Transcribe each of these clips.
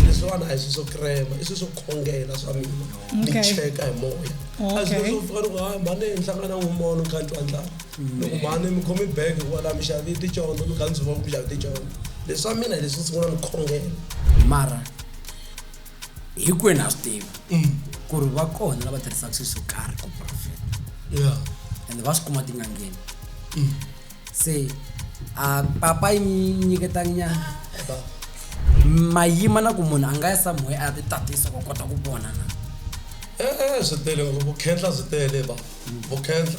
leswiwani a hi swi swo krema i swi swo khongela swa mina ni Okay. cheka hi moya a Okay. swi swo pfuka loko hayi mhani hi nhlangana n'wi mono kha ni twa ndlala loko mhani mi khomi bag kwala mi xavi ticondzo mi kha ndzi va ku mi xavi ticondzo leswi swa mina hi leswi sungula ni khongela mara hinkwenu ha swi tiva ku ri va kona lava tirhisaka swilo swo karhi ku profeta yeah ende va swi kuma tin'angeni se a papa yi mi nyiketanyana ba mayima na ku munhu a nga ya samuhe a ya ti tatisa ku kota ku vona na eh eh swi tele ngopfu khetla swi tele ba vu khetla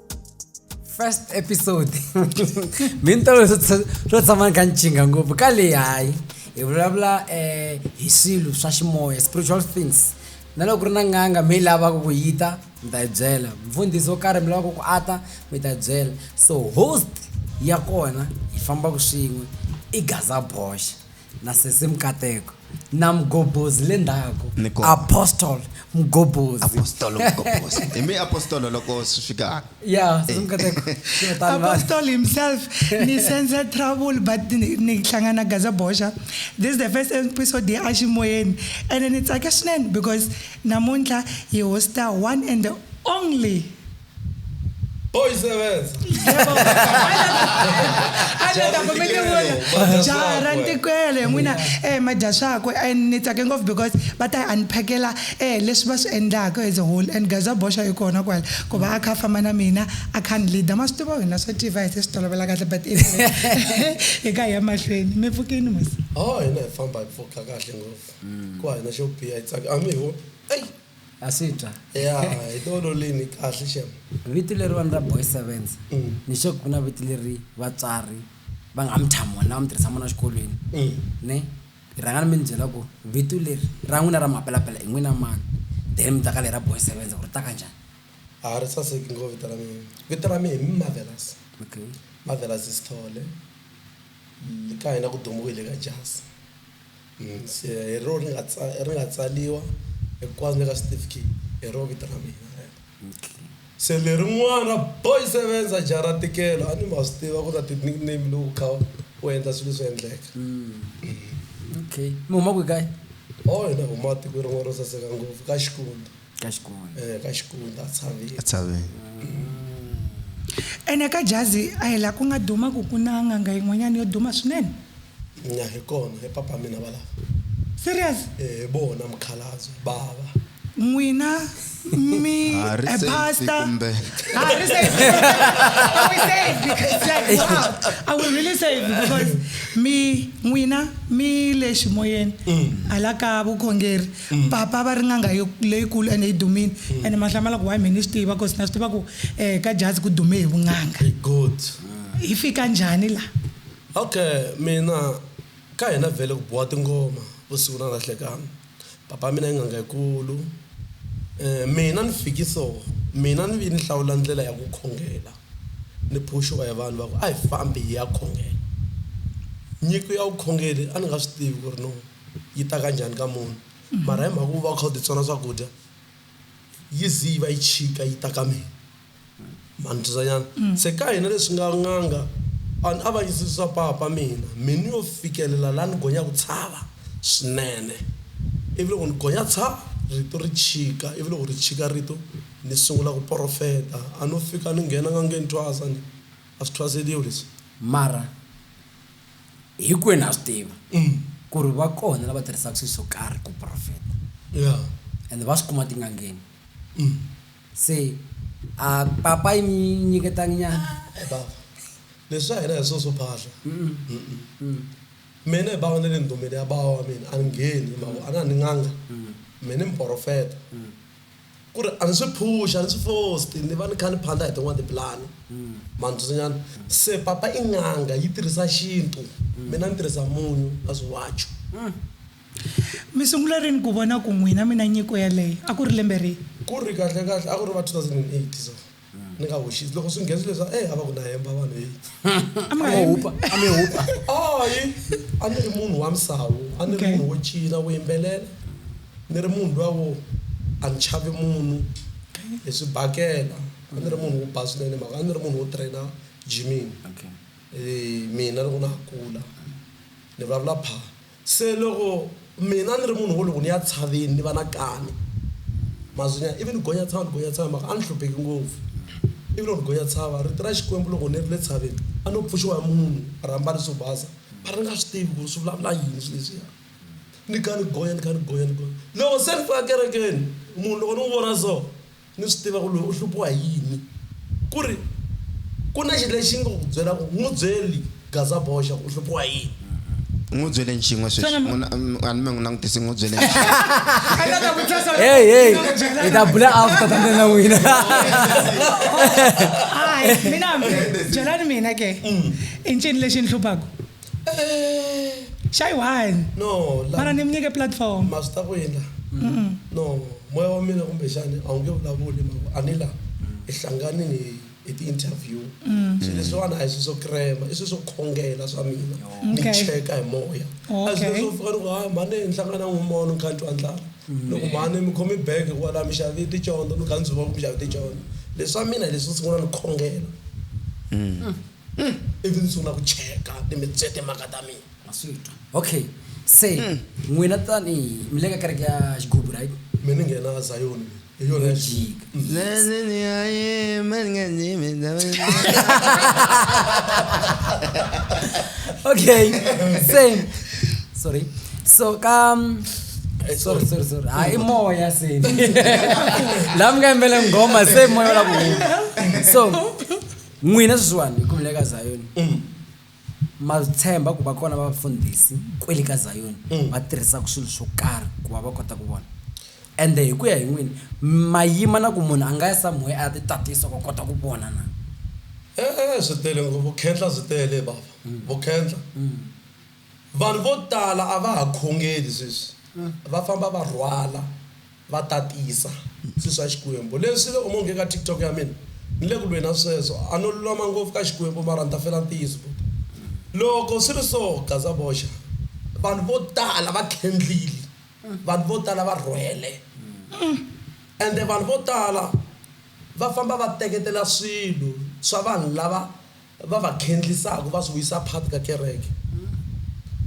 first episode mi ni tolo swo tshama ni kha ni chinga ngopfu ka leyi hayi hi vulavula um hi swilo swa ximoya spiritual things na loko ku ri na n'anga mi yi lavaka ku yi ta mi ta yi byela mfundhisi wo karhi mi lavaka ku ata mi ta byela so host ya kona hi fambaka swin'we i gaza boxa na sesi mkateko na mgobozi le ndzhaku Ni kona. apostle mgobozi apostolo mgobozi hi mi apostolo loko swi fika ya sesi mkateko Swi ta ni vanhu. Apostle himself ni sense trouble but ni ni hlangana Gaza Bosha this is the first episode ya Ashimoyeni and ni tsake swinene because namuntlha hi hosta one and the only Pois é, Wes. a ndzi ta kumeke vona jaha ra ntikwele hi n'wina um madya swakwe and ni tsake ngopfu because va ta hi unpackela um leswi va swi endlaka as a whole and gaza boxa yi kona kwala ku va a kha a famba na mina a kha ni leader ma swi tiva hina swa tiva hi se swi tolovela kahle but anyway, hi ka hi ya mahlweni mi pfukini mos o hina hi famba hi pfuka kahle ngopfu ku hina xo biha hi tsaka a mi ho eyi ha swi twa ya hi tolo lini kahle xem vito leriwani ra boy sevens Mm. ni xe ku na vito leri vatswari va nga mi tshama wona va mi tirhisa mona xikolweni Mm. ne hi rhanga ni mi ni byela ku vito leri ra n'wina ra mapelapela i n'wina mani then mi ta ka leri ra boy sevens ku ri ta ka njhani a ri saseki ngo vito ra mina vito ra mina hi marvelous okay marvelous sithole ka hina ku dumiwile ka jasi hi rona ri nga ri nga tsariwa hinkwaswo le ka xitifiketi hi rona vito ra mina rero. Se lerin'wana ra Boy Sevenza jaha ra ntikelo a ni ma swi tiva ku ta ti-nickname loko u kha u endla swilo swi endleka. Okay. Mi huma kwihi kaye? Oho hina hi huma tikweni rin'wana ro saseka ngopfu ka Xikunda. ka xikundza eh, ka xikundza a tshaveni ene ka jazi a hi laha ku nga duma ku ku na n'anga yin'wanyana yo duma swinene nya hi kona hi papa mina va lava serious eh, hi vona mukhalabye bava n'wina me, ah, a pastor. Ah, I will say it because like wow, I will really say it because me, Wina, me lexi moyeni mm. ala ka vukhongeri Papa va ri n'anga yo leyikulu ene yi dumile ene ma hlamala ku why me ni swi tiva cause na swi tiva ku eh ka Jazi ku dume hi vun'anga. Hi good. Hi fika njhani la? Okay mina ka hina vhele ku biwa tingoma vusiku na na hlekani. Papa wa mina i n'anga yikulu eh mina ni fiki so mina ni vi ni hlawula ndlela ya ku khongela ni phuxiwa hi vanhu va ku a hi fambi hi ya khongela. Nyiko ya vukhongeri a ni nga swi tivi ku ri no. yi ta ka njhani ka munhu mara hi mhaka ku va u kha u titsona swakudya yi zi yi va yi chika yi ta ka mina manitwisanyana mm. se ka hina leswi nga n'anga vanhu a va yisisisa papa mina minu yo fikelela laha ni gonya ku tshava swinene ivi loko ni gonya tshava rito ri chika ivi loko ri chika rito ni sungula ku porofeta a no fika ni nghena nga ngeni thwasa ni a swi thwaseliwi leswi mara hinkwenu ha swi tiva ku ri va kona lava tirhisaka swilo swo karhi ku profeta ende va swi kuma tin'angeni se a papa yi mi nyiketangi nyana leswi swa hina hi swo swo phahla mina hi bawa na le ndumbeni ya bawa wa mina a ni ngheni mavo a na ni n'anga mina ni muporofeta Ku ri a ni swi phuxi, a ni swi fosti, ni va ni kha ni phanda hi tin'wana tipulani. Ma ni twisanyana? Se papa i n'anga, yi tirhisa xintu, mina ni tirhisa munyu na swiwacu. Mi sungula rini ku vona ku n'wina mi na nyiko yaleyo? A ku ri lembe rihi? Ku ri kahle-kahle a ku ri va 2008 so. ni nga hoxisi loko swi nghenzi leswa e a va ku na hemba vanhu heyi amehupa amehupa ayi a ni ri munhu wa misawu a ni ri munhu wo cina wo yimbelela ni ri munhu luya wo a ni chavi munhu hi swi bakela a ni ri munhu wo ba swinene mhaka a ni ri munhu wo traina jimini um mina loko na ha kula ni vulavula pha Se loko mina ni ri munhu wo loko ni ya tshaveni ni va na kani, mazunyana ivi ni gonya tshava ni gonya tshava hi mhaka a ni hlupheki ngopfu. Ivi loko ni gonya tshava, rito ra Xikwembu loko ni ri le tshaveni a no pfuxiwa hi munhu a ri ambale swo basa a ni nga swi tivi ku ri swi vulavula yini swilo leswiya. Ni kha ni gonya ni kha ni gonya ni gonya loko se ni fika kerekeni munhu loko ni n'wi vona so, Ni swi tiva ku loyi u hluphiwa hi yini. Ku ri, Ku na xi lexi nga ku byela ku n'wi byeli Gazaboxa ku u hluphiwa hi yini. N'wi byele nxin'we sweswi. N'wi na, a ni me n'wi langutisi, n'wi byele nxin'we. Hey, hey, hi ta bula after tandza na n'wina. Hayi, mina hambi, byelani mina ke. I ncini lexi ni hluphaku? Eh, shy one no la- mara ni mi nyike platform ma swi ta ku yini la no moya wa mina kumbexani a wu nge vulavuli hi mhaka a ni la hi hlanganini hi- hi ti-interview swilo leswiwani a hi swilo swo krema i swilo swo khongela swa mina ni Okay. cheka hi moya a Okay. swilo swo fika loko hayi mhani ni hlangana n'wi mono kha ni twa ndlala loko mhani mi khomi bege kwala mi xavi ticondzo mi kha ndzi va ku mi xavi ticondzo leswi swa mina hi leswi sungula ni khongela Umm ivi ndzi sungula ku cheka ni mi tse timhaka ta mina. Ma swi twa. Okay. Se, n'wina tanihi, mi le ka kereke ya Xigubu, right? Me ni nghena ka Zayoni mina. Hi yona ya Xigubu. Yo jika. Sweswi ni ya yima ni nga yimi ndhawini leyi. Okay. Se, sorry. So, ka, sorry, sorry, sorry. Haa, i moya se. Laha mi nga yimbela nghoma se moya wu lava ku huma. So. N'wina swisiwana, hi khomile eka Zayoni, ma swi tshemba ku va kona vafundhisi kwele ka Zayoni va tirhisaka swilo swo karhi ku va va kota ku vona. Ende hi ku ya hi n'wina, ma yima na ku munhu a nga ya somewhere a ya titatisa ku a kota ku vona na? E-e, swi tele ngopfu, vukhehla byi tele, Bava. Vukhehla. Vanhu vo tala a va ha khongeli sweswi, va famba va rhwala. Va tatisa, Susa Xikwembu. Leswi le umonge ka TikTok ya mina, ni le ku lweni na sweswo. A no lulama ngopfu ka Xikwembu mara ni ta fela ntiyiso ku, loko swi ri so, gaza boxa. Vanhu vo tala va tlhendlile, vanhu vo tala va rhwele, ende vanhu vo tala va famba va teketela swilo swa vanhu lava va va khendlisaka va swi vuyisa part ka kereke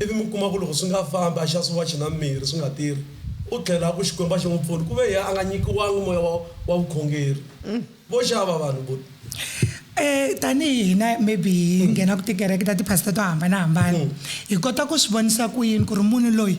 ivi mi kuma ku loko swi nga fambi a xa swiwachi na mirhi swi nga tirhi u tlhela a ku Xikwembu a xi n'wi pfuni ku ve yena a nga nyikiwangi moya wa wa vukhongeri vo xava vanhu vo Eh, tanihi hina maybe hi nghenaku tikereke ta tiphasita to hambanahambana hi kota ku swi vonisa ku yini ku ri munhu loyi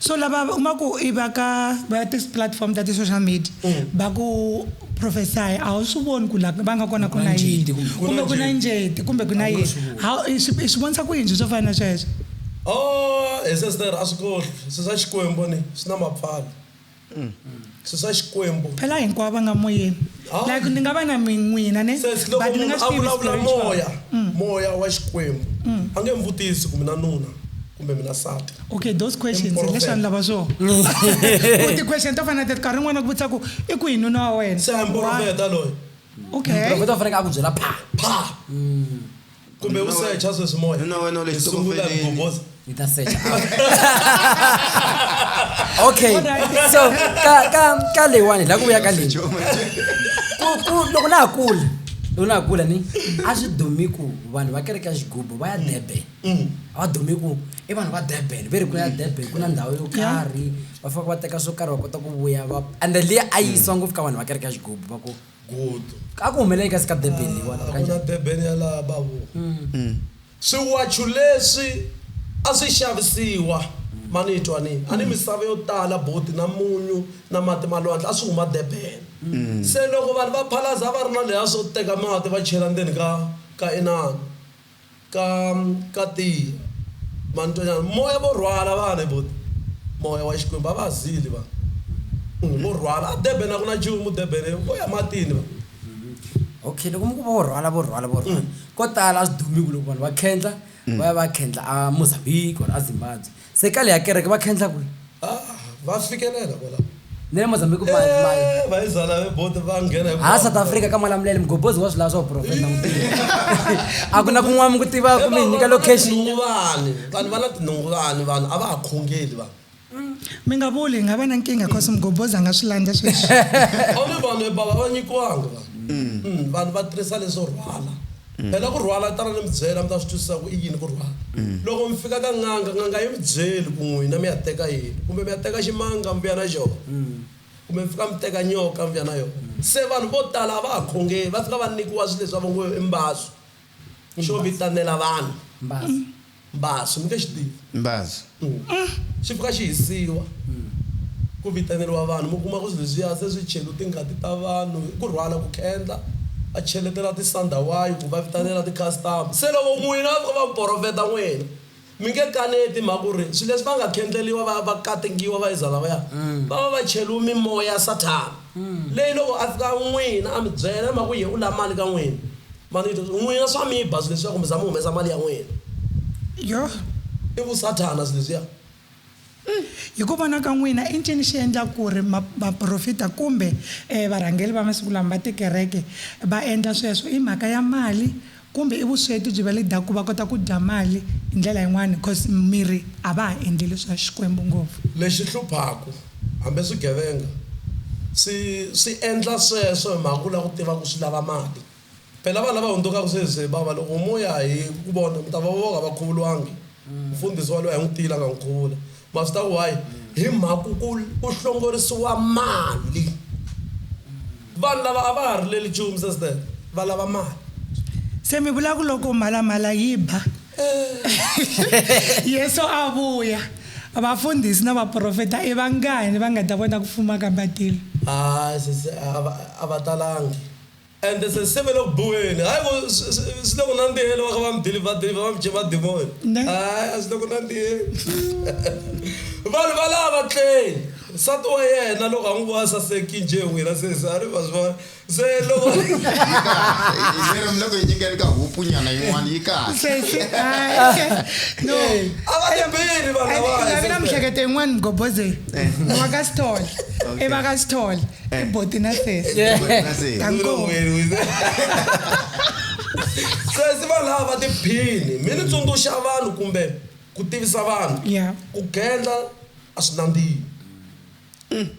So lava uma ku i va ka va ya tis platform ta ti social media mm. va ku prophesy a wu swi voni ku la va nga kona ku na yini kumbe ku na njeti kumbe ku na yini i swi vonisa ku yini swi swo fana na sweswo o oh, he sister a swi kohli swi swa xikwembu ni swi na mapfalo Mm. susa xikwembu phela hinkwavo va nga moyeni ah. like ni nga va na min'wina ne but ni nga swi vulavula moya mm. moya wa xikwembu mm. a nge mi vutisi ku mina nuna kumbe mina sati okay those questions leswi a ni lava swona ku ti-question to fana teti nkarhi n'wana ku vutisa ku i ku hi nuna wa wena se a mporofeta loyi okay profeta u faneke a ku byela pha pha kumbe u secha sweswi moya Nuna wena u le Hi sungula xitokofeleni. ku boboza. Ni ta secha. okay so ka ka ka leyiwani la ku vuya ka leyi Ku- ku- loko na ha kula loko na ha kula ni a swi dumi ku vanhu va kereke ya xigubu va ya durban a va dumi ku i vanhu va durban ve ri ku ya durban ku na ndhawu yo karhi va faka va teka swo karhi va kota ku vuya va and then leyi a yi yisiwa ngopfu ka vanhu va kereke ya xigubu va ku Gutu. A ku humelela kasi ka Durban leyiwani? A ku na Durban ya laha babu. Swiwachu leswi a swi xavisiwa ma ni twa ni a ni misava yo tala buti na munyu na mati ma lwandle a swi huma Durban se loko vanhu va phalaza a va ri na leha swo teka mati va chela ndzeni ka ka inani Ka, ka ti, mantoñana, moya vo rhwala vana hi voti, moya wa Xikwembu, a va ha zili vana. Ungh, vo rhwala. A Durban a ku na nchumu, Durban i, vo ya matini vana. Okay, loko mi ku vo rhwala, vo rhwala, vo rhwala, ko tala a swi dumiku loko vanhu va khendla, va ya va ya khendla a Mozambique or a Zimbabwe. Se kale ya kereke va khendla kwihi? Ah, va fikelela kwalaho. Ni le Mozambique ma ma Eh, va yi zala ve bote va nghena hi hala South Africa ka Malamulele mugobhozi wa swi lava swa vuprofeta na mutirhi. A ku na kun'wana mi ku tiva kumbe hi nyika location. Tinhunguvani. Vanhu va na tinhunguvani vanhu a va ha khongeli vanhu. Mi nga vuli hi nga va na nkingha cause mugobhozi a nga swi landza sweswi. A wu ni vanhu e bava va nyikiwanga vanhu. Mm, vanhu va tirhisa leswo rhwala. Phela ku rhwala tana ni mi byela mi ta swi twisisa ku i yini ku rhwala. Loko mi fika ka n'anga, n'anga yi mi byeli ku n'wina mi ya teka yini. Kumbe mi ya teka ximanga mi vuya na xona. Kumbe mi fika mi teka nyoka mi vuya na yona. Se vanhu vo tala a va ha khongeli, va fika va nyikiwa swilo leswi va ngo i mbasu xo vitanela vanhu. Mbasu, mi nge xi tivi. Mbasu. Xi pfuka xi hisiwa, ku vitaneriwa vanhu, mi kuma ku swilo leswiya se swi cheriwe tingati ta vanhu, i ku rhwala, ku khendla, va cheletela ti-sandawayi ku va vitanela ti-customer. Se loko n'wina va fika va mi porofeta n'wina, mi nge kaneti hi mhaka ku ri swilo leswi va nga khendleriwa va ya va katingiwa va iza lavaya, va va va cheriwe mimoya ya Sathana. Leyi loko a fika n'wina a mi byela ma ku ye u la mali ka n'wina ma ni vito n'wina swa mi ba swileswiya kumbe za mi humesa mali ya n'wina Yoh! i vu sathana swileswiya. Hi ku vona ka n'wina i ncini xi endla ku ri ma vaprofita kumbe varhangeri va masiku lama va tikereke va endla sweswo? I mhaka ya mali Kumbe i vusweti byi va leader ku va kota ku dya mali hi ndlela yin'wana coz mirhi a va ha endleli swa Xikwembu ngopfu. Lexi hluphaku, hambi swigevenga swi swi endla sweswo hi mhaka ku lava ku tiva ku swi lava mali. Phela vanhu lava hundzukaku sweswi, bava loko mo ya hi ku vona mi ta va va nga va khuvulwangi. Mfundhisi waloyi a n'wi tiyile a nga n'wi khuvula. Ma swi tiva why? Hi mhaka ku ku ku hlongorisiwa mali. Vanhu lava a va ha rileli nchumu sweswi ntsena, va lava mali. Se mi vula ku loko mhalamhala yi ba, Yesu a vuya, vafundhisi na vaprofeta i vangani va nga ta vona ku fuma ka matilo? Hayi sesi, a va a va talangi. Ende se sive le ku biweni. Hayi ku swi, swi, swi le ku nandziheni, va kha va mi dilivha, dilivha, va mi dye madimoni. Ne. Hayi, a swi le ku nandziheni. Vanhu valava a va tleli. Nsati wa yena loko a n'wi vona a saseki njhe hi wina sesi, a ri, ma swi vona? Se loko. Yi kahle. Yi seri mi le ku yi nyikeni ka hupunyana yin'wana, yi kahle. Sesi, hayi. No. A va ti beli vanhu lavaya. Ndzi lavela sesi. miehleketo yin'wana, Mgobozeli. Wa ka Sithole. Okay. I va ka Sithole. Eh. ibhoti nasesi Nasi. kankomo sesi vanhu lava va tiphini mi ni tsundzuxa vanhu kumbe ku tivisa vanhu Yeah. ku gendla a swi nandzihi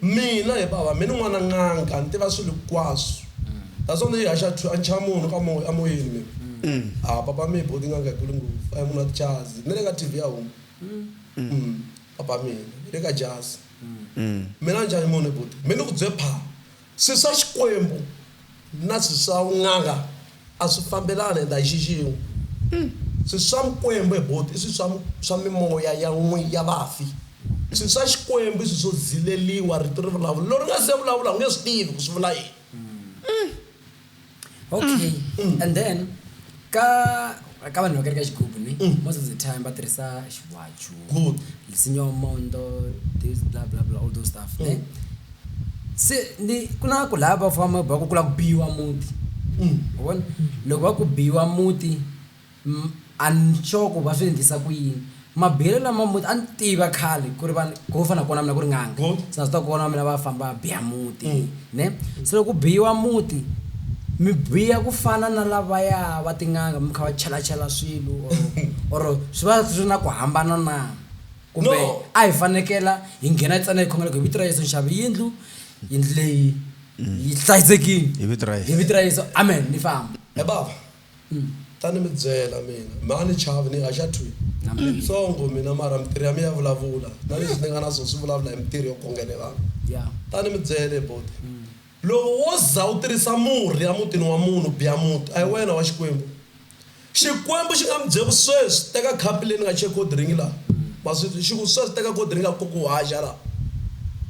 mina hi bava mi ni n'wana n'anga ni tiva swilo hinkwaswo naswona ni yi haxa thu- a ncha munhu ka moya emoyeni mina a papa mi hi boti n'anga hikulu ngopfu a hi munhu wa tichazi ni le ka tv ya huma Mm. Papa mina le ka jasi. Mina njhani mune buti. Me ni ku bye pha. Swi swa Xikwembu na swi swa vun'anga a swi fambelani and a hi xi xin'we. Swi swa Mikwembu he buti i swi swa swa mimoya ya n'wi ya vafi. Swi swa Xikwembu i swi swo zileliwa rito ri vulavula. Loko ri nga se vulavula u nge swi tivi ku swi vula yini. okay mm. and then ka ka vanhu va kereka xigubu ni mm. most of the time va tirhisa xiwachu lisinyo mondo this bla bla bla all those stuff mm. ne se ni ku na ku lava va famba va ku kula ku biwa muti mm. vona loko va ku biwa muti Nhloko va swi endlisa ku yini? Mabihelo lama muti a ni tiva khale ku ri va ko fana kona mina ku ri n'anga se na swi tiva ku vana va mina va famba va biha muti ne se loko ku biyiwa muti mi biya ku fana na lavaya va tin'anga mi kha va chela chela swilo or or swi va swi ri na ku hambana na kumbe a hi fanekela hi nghena ntsena hi khongela ku hi vito ra Yeso ni xava yindlu yindlu leyi yi hlayisekile hi vito ra Yeso amen ni famba. Ta ni mi byela mina, mi a ni chavi, ni haxa thwi. Ni ntsongo mina, mara mitirho ya mina ya vulavula, na leswi ni nga na swona swi vulavula hi mitirho yo khongela vanhu. Ta ni mi byela, he buti, loko wo za u tirhisa murhi emutini wa munhu, u biya muti, a hi wena wa Xikwembu. Xikwembu xi nga mi byela ku, Sweswi teka khapu leyi ni nga chela cold drink laha, ma swi twa? Xi ku, Sweswi teka cold drink kutani u haxa laha.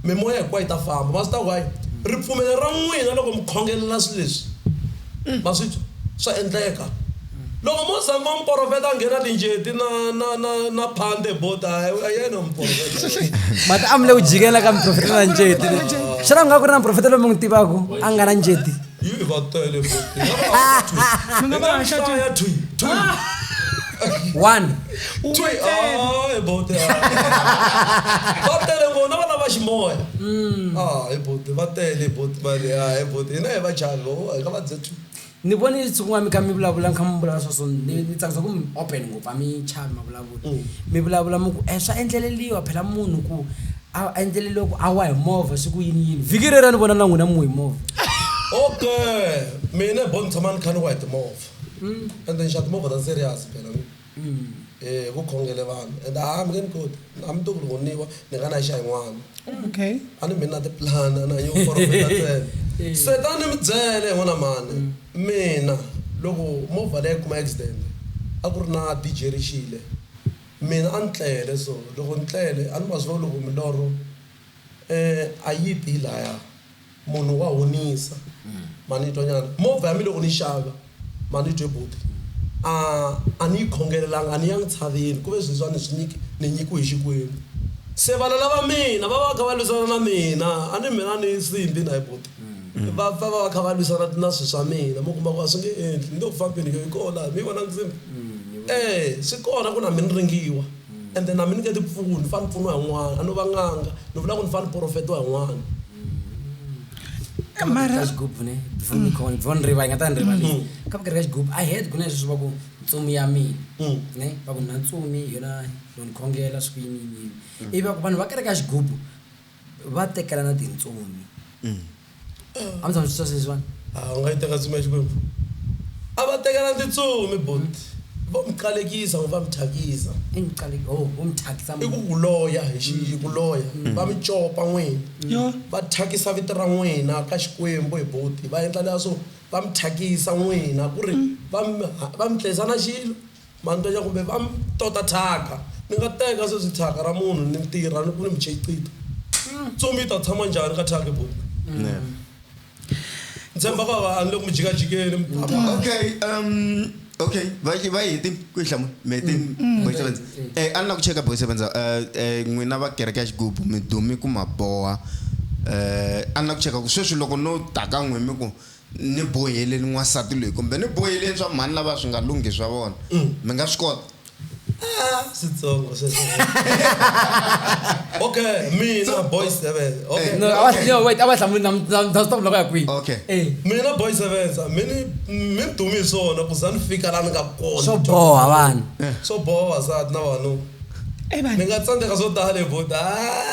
Mimoya hinkwayo yi ta famba. Ma swi tiva ku, hayi, ripfumelo ra n'wina loko mi khongelela swilo leswi, Ma swi twa? Swa endleka. Loko mo za mo muporofeta a nghena tinjeti na na na na phande bot a hi yena muporofeta. Mati a mi le ku jikela ka muprofeta na njeti. Xana ku nga ku ri na muprofeta loyi mi n'wi tivaka a nga na njeti? Yi va tele bot. Mi nga va haxa twi. One. u twe a hi bote va tele vona va lava ximoya mm. a hi bote va tele hi bote mali a hi bote hina hi va chani vo hi ka va dze two ni vone siku n'wana mi kha mi vulavula ni kha mi vulavula sweswo ni tsakisa ku mi open ngopfu a mi chavi mavulavula mm. mi vulavula mi ku um swa endleleliwa phela munhu ku a endleleliwa ku a wa hi movha siku yini yini vhiki rera ni vona na n'wina mu hi movha okay mina bo ni tshama ni kha ni wa hi timovha mm. ende ni xa timovha ta serious phela Umm eeh vo khongele vanhu and haa mi nge ni koti a mi to ku rhoniwa ni nga na xa yin'wana Okay. a ni mi na ti-plan-a na yo profeta ntsena se tani ni mi byele hi n'wina mhani mina loko movha leyi a yi kuma accident a ku ri na DJ ri xile mina a ni tlele so loko ni tlele a ni ma swi vona ku milorho a yi ti yi laya. Munhu wa honisa ma ni twa nyana movha ya mi loko ni xava ma ni twe buti a a ni yi khongelelanga a ni yangi tshaveni kuve sweswa ni swi nyiki ni nyikiwe hi Xikwembu se vana lava mina va va kha va lwisana na mina a ni mina ni nsimbhi na hi buti va pfa va va kha va lwisana na swi swa mina mi kuma ku a swi nge endli ni nge ku fambini yo yi koho laha mi yi vona nsimbhi e swi kona ku na mi ni ringiwa and then a mi nyiketi mpfuno ni fane ni pfuniwa hi n'wana a no va n'anga ni vula ku ni fane ni porofetiwa hi n'wana mara ka xigubu ne before ni khona before ni riva yi nga ta ni rivali Mm. ka vukarhi ka xigubu i heard ku na leswi va ku ntsumi ya mina Mm. ne va ku na ntsumi hi yona yo ni khongela swi ku yini yini yini ivi va ku vanhu va kereke ya xigubu va tekelana tintsumi a mi tshama mi swi twa sweswiwani a u nga yi teka ntsumi ya xikwembu a va tekelana tintsumi buti vo mi qalekisa kumbe va mi thyakisa i mi qale ho vo mi thyakisa i ku ku loya hi xi hi ku loya va mi copa n'wina va thyakisa vito ra n'wina ka xikwembu hi buti va endla leswo va mi thyakisa n'wina ku ri va mi ha- va mi tlhisa na xilo Mantonya kumbe va mi tota thyaka. Ni nga teka sweswi thyaka ra munhu ni tirha ni ku ni mi cheqita. Ntsumi yi ta tshama njhani ka thyaka buti? Ni tshemba ku a ni le ku mi jikajikeni. Okay, um, okay, va yi- va yi heti ku yi hlamula. Mi heti Boy Sevenza. Eh, a ni la ku cheka Boy Sevenza, eh, eh, n'wina va kereke ya xigubu mi dumi ku ma boha. Eh, a ni la ku cheka ku sweswi loko no ta ka n'we mi ku Ni boheleni n'wansati loyi kumbe ni boheleni swa mhani lava swi nga lunghi swa vona. Mi nga swi kota? Ah, switsongo sweswo. Okay, mina Boy Sevenza. Okay. No, a va no wait a va hlamuli na na na stop loko ya kwihi. Okay. Eh. Mina Boy Sevenza mi ni mi ni dume hi swona ku za ni fika la ni nga kona. Swo boha vanhu. Swo boha vavasati na vavanuna. Mi nga tsandzeka swo tala hi buti.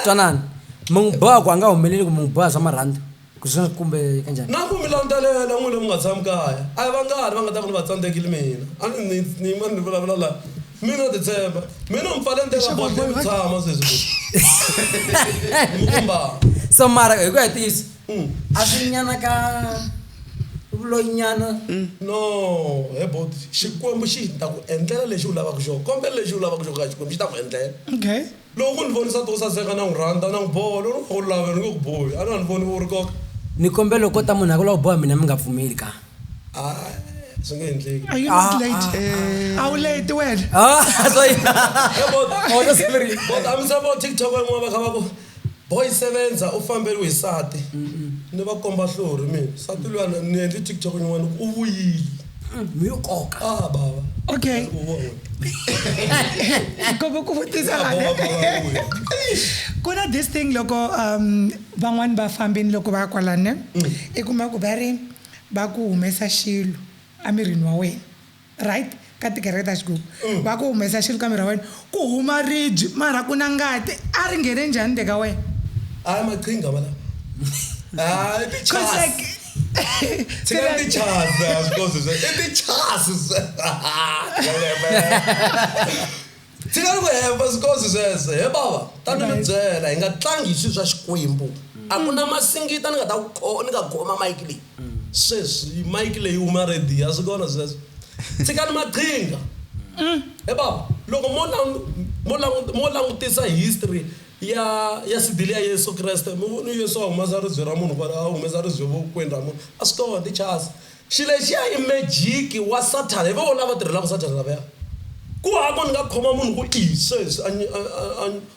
Twanana. Mi n'wi boha ku a nga humeleli kumbe mi n'wi boha swa marhandzu? Ku ze kumbe kanjhani? Na ku mi landzelela n'wina mi nga tshami kaya. A hi vangani va nga ta va ni va tsandzekile mina. A ni ni ni yima ni vulavula la. Mi no titshemba. Mi no mi pfale ndlela but mi mi tshama sweswi futhi. Ni mi kombaka. So mara hi ku ya ntiyiso a swi nyana ka vuloyi nyana. No, he buti Xikwembu xi ta ku endlela lexi u lavaka xoho. Kombela lexi u lavaka xoho ka Xikwembu xi ta ku endlela. Okay. Loko u ni vonisa nti u saseka, na n'wi rhandza, na n'wi boha, loko ni ku u love, ni nge ku bohi, a na ha ni voni u ri koka. Ni kombela loko ko ta munhu a ku u lava ku boha mina mi nga pfumeli ka? Aa, swi nge endleki. Are you not late? A wu late wena? Aa, swa yini? He bot, Or u siverile. bot a mi se vo TikTok van'wana va kha va ku, Boy Sevenza u famberiwe hi nsati. Ni va komba hlori mina. Nsati luya ni endli TikTok yin'wana, u vuyile. Hi nkoka. Ah baba. Okay. Kobe ku vutisa lana. Ku na this thing loko um van'wani va fambini loko va ya kwalane i kuma ku va ri ba ku humesa xilo emirini wa wena right ka tikereke ta xigugu va ku humesa xilo ka miri wa wena Ku huma ribye mara ku na ngati. A ri nghene njhani le ka wena? A hi maqhinga walawa. A i tichasi. Tshikani tichasi a swi kosi sweswo. I tichasi Tshikani ku hemba swi kosi sweswo. He bava ta ni mi byela hi nga tlangi hi swilo swa Xikwembu. A ku na masingita ni nga ta ku ni nga khoma mayiki leyi. Sweswi yi mic leyi huma ready a swi kona sweswo. Tshikani maqhinga. He bava loko mo mo mo langutisa history ya ya sidile ya Yeso Kreste mi vone Yeso a humesa ribye ra munhu kwala a humesa ribye vokweni ra munhu a swi kona i chasi. Xi lexiya i magic wa sathana hi voho lava tirhelaka sathana lavaya. Ku hava ku ni nga khoma munhu ku i sweswi a a a.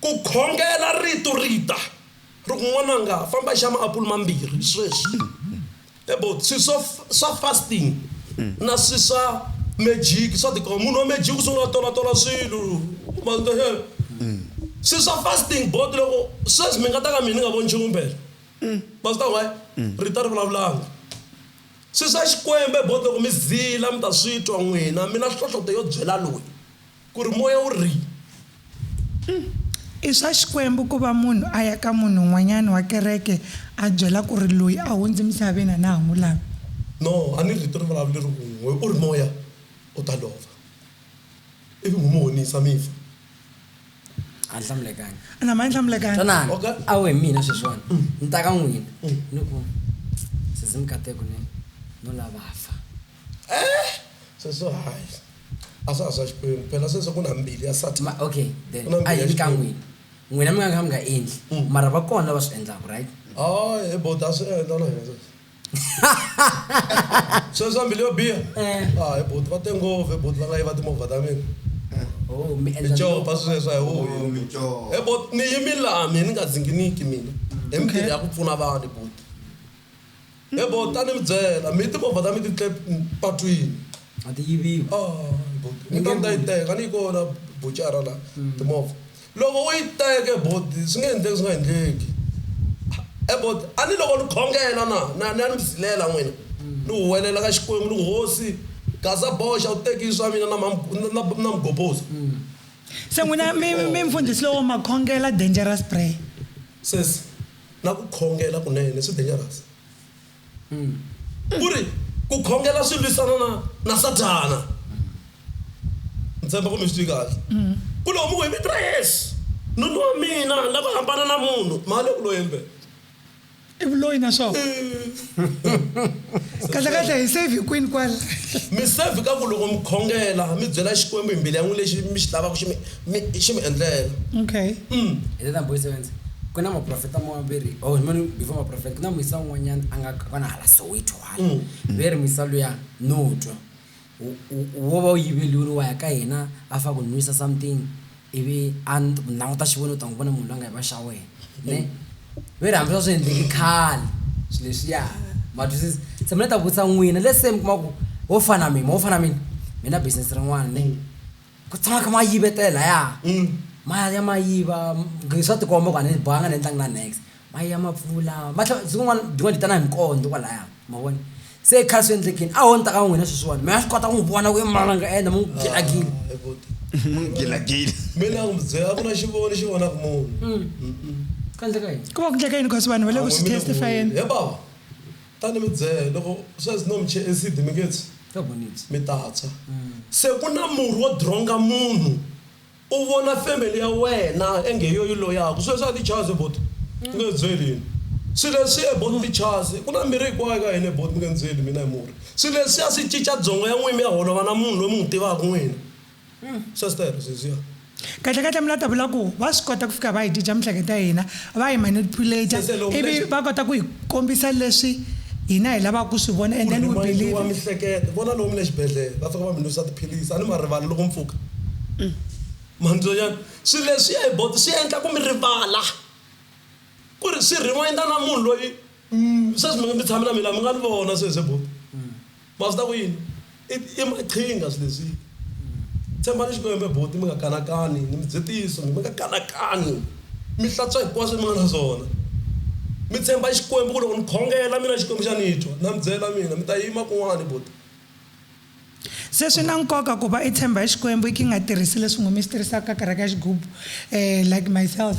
Ku khongela Rito ri ta, ri ku, N'wananga, famba i xa maapulu mambirhi sweswi. Mi vona? Swilo swa, swa fasting na swilo swa mejiki swa tikomba. Munhu wa mejiki u sungula a tolatola swilo, ma swi twa. Swilo swa fasting bo ti loko, sweswi mi nga ta ka mina ni nga voni nchumu impela. Ma swi twa ku hayi, Rito a ri vulavulanga. Swilo swa Xikwembu bo ti loko mi zila mi ta swi twa n'wina, mi na nhlohloto yo byela loyi. Ku ri moya wu ri. Uhm, i swa Xikwembu ku va munhu a ya ka munhu un'wanyana wa kereke a byela ku ri loyi a hundze emisaveni a na ha n'wi lavi. No, a ni rito ri vulavuleri un'we, u ri moya u ta lova, ivi n'wi mi honisa mi fa. A ni hlamulekanga. Na ma ni hlamulekanga. Twanani, Okay. a wu hi mina sweswiwani, ni ta ka n'wina, ni ku, Sesi Mikateko ni, no lava fa. eh sweswo hayi a swa ha swa xikwembu phela sweswo ku na mbili ya satan Ma- okay then Ku na a mbuyelo hi ka xikwembu. n'wina n'wina mi nga ka mi nga endli Mm. mara va kona lava swi endlaka right hayi hi bota swi endla na hina sweswo sweswo mbili yo biha Eh. hayi boti va te ngopfu hi boti va nga yiva timovha ta mina oh mi endla icopa sweswo hi Oh, mico. e boti ni yimi laha mina ni nga dzinginiki mina hi mintirho ya ku pfuna vanhu boti He bo ta ni mi byela mi timovha ta mi ti tle patwini a ti yiviwi a bo ni ta ni ta yi teka a ni yi kona buchara la timovha loko u yi teke bo swi nge endleki swi nga endleki he bo a ni loko ni khongela na na ni ya ni mi zilela n'wina ni huwelela ka Xikwembu ni ku hosi gaza boxa u teki swa mina na na mugobhozi se n'wina mi mi mfundhisi lowo ma khongela dangerous prayer. Sesi. Na ku khongela kunene swi dangerous. Ku ri ku khongela swi lwisana na na Sathana. Ni tshemba ku mi swi twi kahle. Ku loko mi ku hi vito ra Yesu, nuna wa mina ni lava ku hambana na munhu, ma le ku lweni mpela. I vuloyi na swona. kahlekahle hi save kwini kwala mi save ka ku loko mi khongela mi byela xikwembu hi mbilu ya n'wi lexi mi xi lavaka xi mi xi mi endlela okay mm. hi tata boy sevenze ku na maprofeta maveri oh mani before maprofeta ku na muyisa un'wanyana a nga kona hala soweto hala mm. ve ri muyisa luya no twa wo va u yiveriwa u ya ka yena a fika a ku nwisa something ivi a languta xivoni u ta n'wi vona munhu la nga yiva xa wena ne ve ri hambi swa swi endleki khale swi leswiya ma twisisa se mina ni ta vutisa n'wina let's say mi kuma ku wo fana na mina mo fana na mina mi na business rin'wana ne ku tshama mi kha mi ya yivetela lahaya ma ya ma ya yiva swa tikomba ku a ni banga a ni endlangi na nex. Maye ya mapfula, va tlhela siku rin'wana byin'wana byi ta na hi minkondzo kwalaya, ma vona. Se khale swi endlekile, a ho ni ta ka n'wina sweswiwani, mi nga swi kota ku n'wi vona ku i mani a nga endla, mi n'wi gilagile. Gilagile. Me ni nga n'wi byela, a ku na xivono lexi vonaka munhu. Ku endleka yini? Ku va ku endleka yini because vanhu va le ku swi testify-eni? He bava, ta ni mi byela, loko sweswi no mi chelela acid mi nge tshwi? Mi ta tshwa. Se ku na murhi wo dironga munhu. U vona family ya wena enge hi yo yi loyaku swilo swa tichazi bot mi nge nzeli yini swi leswiya bot tichazi ku na mirhi hinkwayo ka hina bot mi nge nzeli mina hi murhi swi leswiya swi cica dzongo ya n'wina mi ya holova na munhu loyi mi n'wi tivaku n'wina sweswero swi leswiya. Kahle kahle mi la ta vula ku va swi kota ku fika va hi cinca mihleketo ya hina va hi manipulate Sese loko ivi leswi- va kota ku hi kombisa leswi hina hi lavaka ku swi vona and then we Rimanyiwa believe mihleketo vona lomu le xibedhlele va fika va mi nwisa tiphilisi a ni ma rivali loko mi pfuka mandzonyana swilo leswi ya hi bo swi endla ku mi rivala ku ri swi reminder na munhu loyi mm, sweswi mi tshame na mina mi nga ni vona sweswi bo ma swi ta ku yini i maqhinga swilo leswi tshembani xikwembe boti mi nga kanakani ni mi dzetiso mi nga kanakani mi hlantswa hinkwaswo mi nga na swona mi tshemba xikwembu ku loko ni khongela mina xikwembu xa ni twa na mi byela mina mi ta yima kun'wani boti Se swi na nkoka ku va i tshemba hi Xikwembu i ki nga tirhisi leswi ngomi swi tirhisaka ka kereke ya xigubu. Eh, like myself,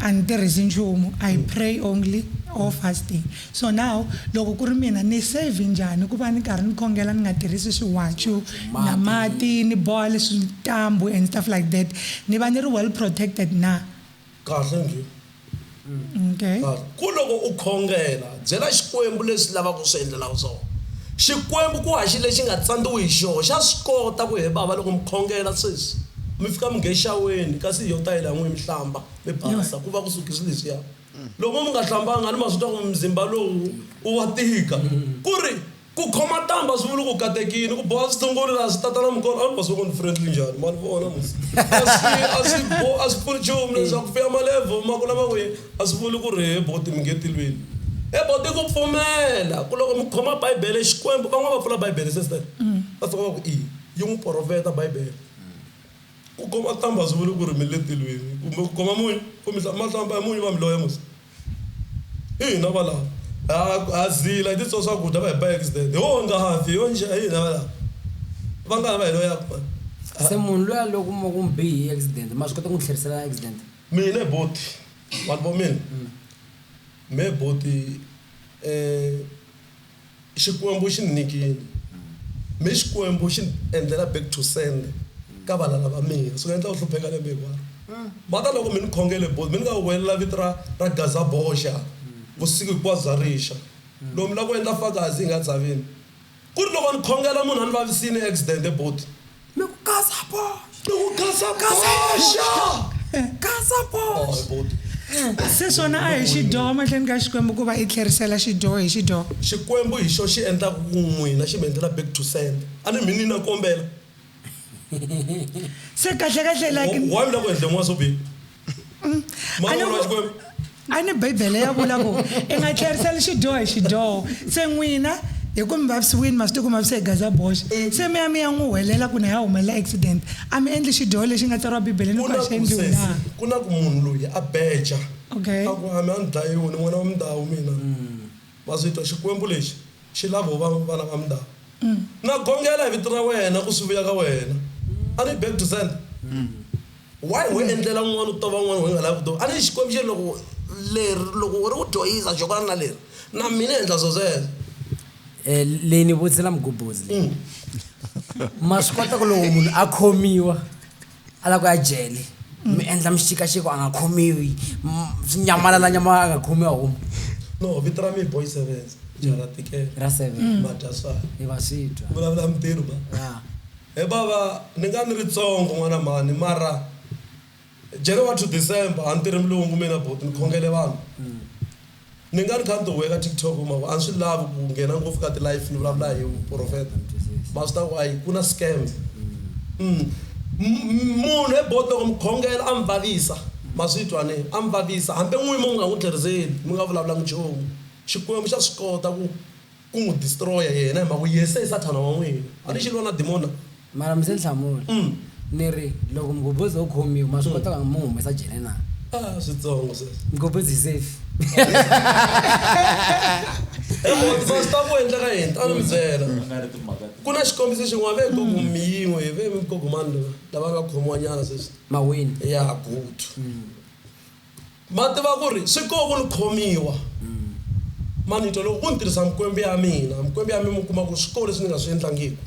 a ni tirhisi nchumu. I pray only or fasting. So now, loko ku ri mina, ni save njhani ku va ni karhi ni khongela ni nga tirhisi swiwacu, na mati, ni boha leswi ntambhu and stuff like that? Ni va ni ri well protected na? Kahle njhe. Okay. Kahle. Ku loko u khongela, byela Xikwembu leswi lavaka ku swi endlela swona. Xikwembu ku haxi lexi nga tsandziwi hi xoho, xa swi kota ku he bava loko mi khongela sweswi, mi fika mi nge xaweni kasi hi yo tayele ya n'wina mi hlamba, mi basa, ku va ku suke swilo leswiya. Loko mi nga hlambanga a ni ma swi twa ku mzimba lowu u wa tika. Ku ri Ku khoma ntambhu a swi vuli ku katekini, ku boha switungulu laha swi tatana mukolo a ni basoko ni friendly njhani ma ni vona ni a swi a swi bo a swi pfuni nchumu leswaku ku vuya malevhu ma ku lama kwihi a swi vuli ku ri he boti mi nge tilweni he boti ku pfumela ku loko mi khoma bibele Xikwembu van'wana va pfula bibele se swi va fika va ku i yi n'wi porofeta bibele ku khoma ntambhu a swi vuli ku ri mi le tilweni kumbe ku khoma munyu ku mi ma hlamba hi munyu va mi loya musi. ina va lava ha ha zila hi titswa swakudya va hi ba accident hi wo ngafi hi yo njhe hi hina va lava va nga ha va hi lo yaku mani se munhu loyi a loko mo ku mi bihi hi accident ma swi kota ku n'wi tlherisela accident mina hi boti vanhu vo mina me boti um Xikwembu xi ni nyikile, mi Xikwembu xi ni endlela back to sender ka valala va mina. Swi nga endla u hlupheka lembe hinkwaro. Va ta loko mi ni khongele both, mi ni nga huwelela vito ra ra Gazaboja vusiku hinkwabyo bya rixa. Loko mi lava ku endla fakazi hi nga dzaveni, ku ri loko ni khongela munhu a ni vavisile accident both. Gaza Porsche. Ni ku Gaza Porsche. Gaza Porsche. Se swona a hi xidyoho mahlweni ka Xikwembu ku va i tlherisela xidyoho hi xidyoho. Xikwembu hi xo xi endlaka ku n'wina xi mi endlela back to sender. A ni mi ni na kombela. Se kahle kahle like. Why mi la ku endle n'wana swo biha? mm. a ni bibele ya vula ku i nga tlheriseli xidyoho hi xidyoho se n'wina hi ku mi vavisiwini ma swi tiku ma vise hi gaza boxe mm. se mi ya mi ya n'wi huwelela ku na ya humelela accident a mi endli xidyoho lexi nga tsariwa bibeleni ku a xi endliwi na ku na ku munhu loyi a beja okay a ku hami a ni dlayiwi ni n'wana wa mindhawu mina mm. ma swi twa xikwembu lexi xi lavo va vana va mindhawu mm. na gongela hi vito ra wena ku swi vuya ka wena a ni back to send Why ho endlela un'wana u tova un'wana ho nga lavi ku tova? A ni Xikwembu xi ri loko leri loko u ri u dyohisa xo fana na leri na mina endla swo sweswo. Eh, leyi ni vutisela mugubhuzi leyi. Ma swi kota ku loko munhu a khomiwa a lava ku ya jele mi endla mixikaxiko a nga khomiwi m- swi nyamalala nyama a nga khomiwi a huma No, vito ra mina boy Sevenza, Jara Tikela, ra seven Madya swala, i va swi twa vulavula mintirho ba. ya He bava ni nga ni ri tsongo n'wana mhani mara January to December a ni tirhi mulungu mina buti ni khongele vanhu ni nga ni kha ni ti huheka TikTok ma ku a ni swi lavi ku nghena ngopfu ka ti life ni vulavula hi vuprofeta ma swi ta ku a yi ku na scam munhu he buti loko mi khongela a mi vavisa ma swi twa ne a mi vavisa hambi n'wini mi nga n'wi tlheriseli mi nga vulavulanga nchumu Xikwembu xa swi kota ku Ku n'wi distroya yena hi mhaka ku yese i Sathana wa n'wina. A ni xilwa na dimona. Mara mi se ni hlamula. Ni ri, Loko Mgobhozi o khomiwa, ma swi kota ku n'wi humesa jele na? A switsongo sweswo. Mgobhozi hi safe. Hi lava ku tiva swi ta ku endleka yini. A ni mi byela, Ku na xikombiso xin'wana. Ve gogo mi yin'we hi ve gogo mani lava nga khomiwanyana sweswi? Mawini. Ya, Gutu. Ma tiva ku ri swi koho ku ni khomiwa manito loko ku ni tirhisa mikwembu ya mina. Mikwembu ya mina mi kuma ku swi koho leswi ni nga swi endlangiku.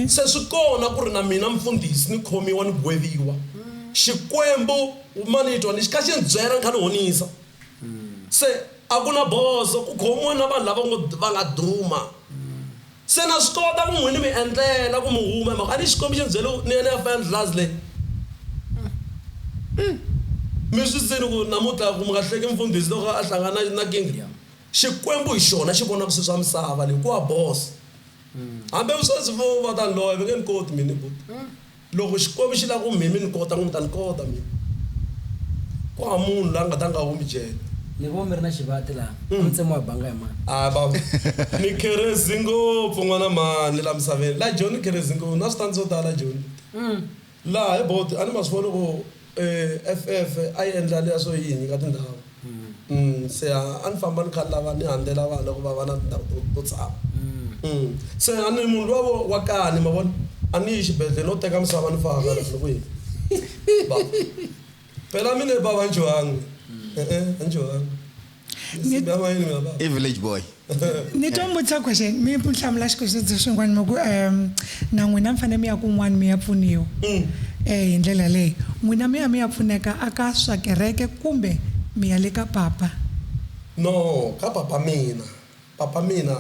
Se swi kona ku ri na mina mufundhisi ni khomiwa ni gweviwa. Xikwembu manitwa ni xi kha xi ni byela ni kha ni honisa. Se a ku na bozo ku khomiwa na vanhu lava ngo va nga duma. Se na swi kota ku n'wi ni mi endlela ku mi huma hi mhaka a ni Xikwembu xi ni byele ku ni ya ni ya fa endlulazi leyi. Mi swi zini ku namutlha ku mi nga hleki mfundhisi loko a hlangana na na kinga? Xikwembu hi xona xi vonaka swi swa misava leyi ku wa boss. Hambi sweswi vo va ta ni loya va nge ni koti mina buti. Loko Xikwembu xi lava ku mi mi ni kota, n'wina mi ta ni kota mina. Ku hava munhu la nga ta nga humi jele. Ni vo mi ri na xivati laha, a mi tsemiwa hi banga hi mani? A va ku, Ni kherezi ngopfu n'wana mhani la misaveni. La Joni ni kherezi ngopfu. Na switandzeni swo tala la Joni. Laha hi bodo, a ni ma swi vona loko. EFF a yi endla leswo yini ka tindhawu? Se a a ni famba ni kha ni lava ni handlela vana ku va va na tindhawu to to tshama. Se a ni munhu luwa wa kani ma vona, a ni yi xibedhlele no teka misava ni faka la ni ku yini. Phela mina bava a ni dyohanga, e-e a ni dyohanga. musimbi wa yini wena baba i village boy ni to mbutisa question mi mi hlamula xikwexiso xin'wana mi ku um na n'wina mi fanele mi ya kun'wana mi ya pfuniwa um hi ndlela leyi n'wina mi ya mi ya pfuneka a ka swa kereke kumbe mi ya le ka papa no ka papa mina papa mina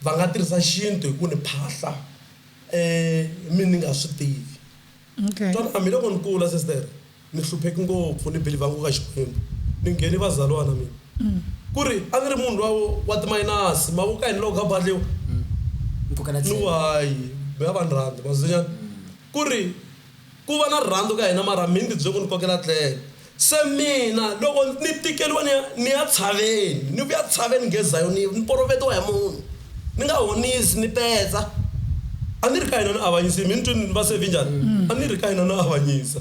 va nga tirhisa xintu hi ku ni phahla um mi ni nga swi tivi Okay. Twan a miloko ni kula sister ni hluphek ngopfu ni believer ngo ka Xikwembu ni ngheni vazalwana mina ku ri a ni ri munhu lwa wa ti minus ma vo ka yini loko ka badliwa Ni kokela ni tlhelo. why mi nga va ni rhandzi ma swi ku ri ku va na rirhandzu ka hina mara mi ni ti bye ku ni kokela tlhelo Se mina, loko ni tikeriwa ni ya, ni ya tshaveni, ni vuya tshaveni nge Zayoni, ni porovetiwa hi munhu, ni nga honisi, ni petsa. A ni ri ka hina ni avanyisi, mi ni twini ni va se vinjhani? A ni ri ka hina ni avanyisa.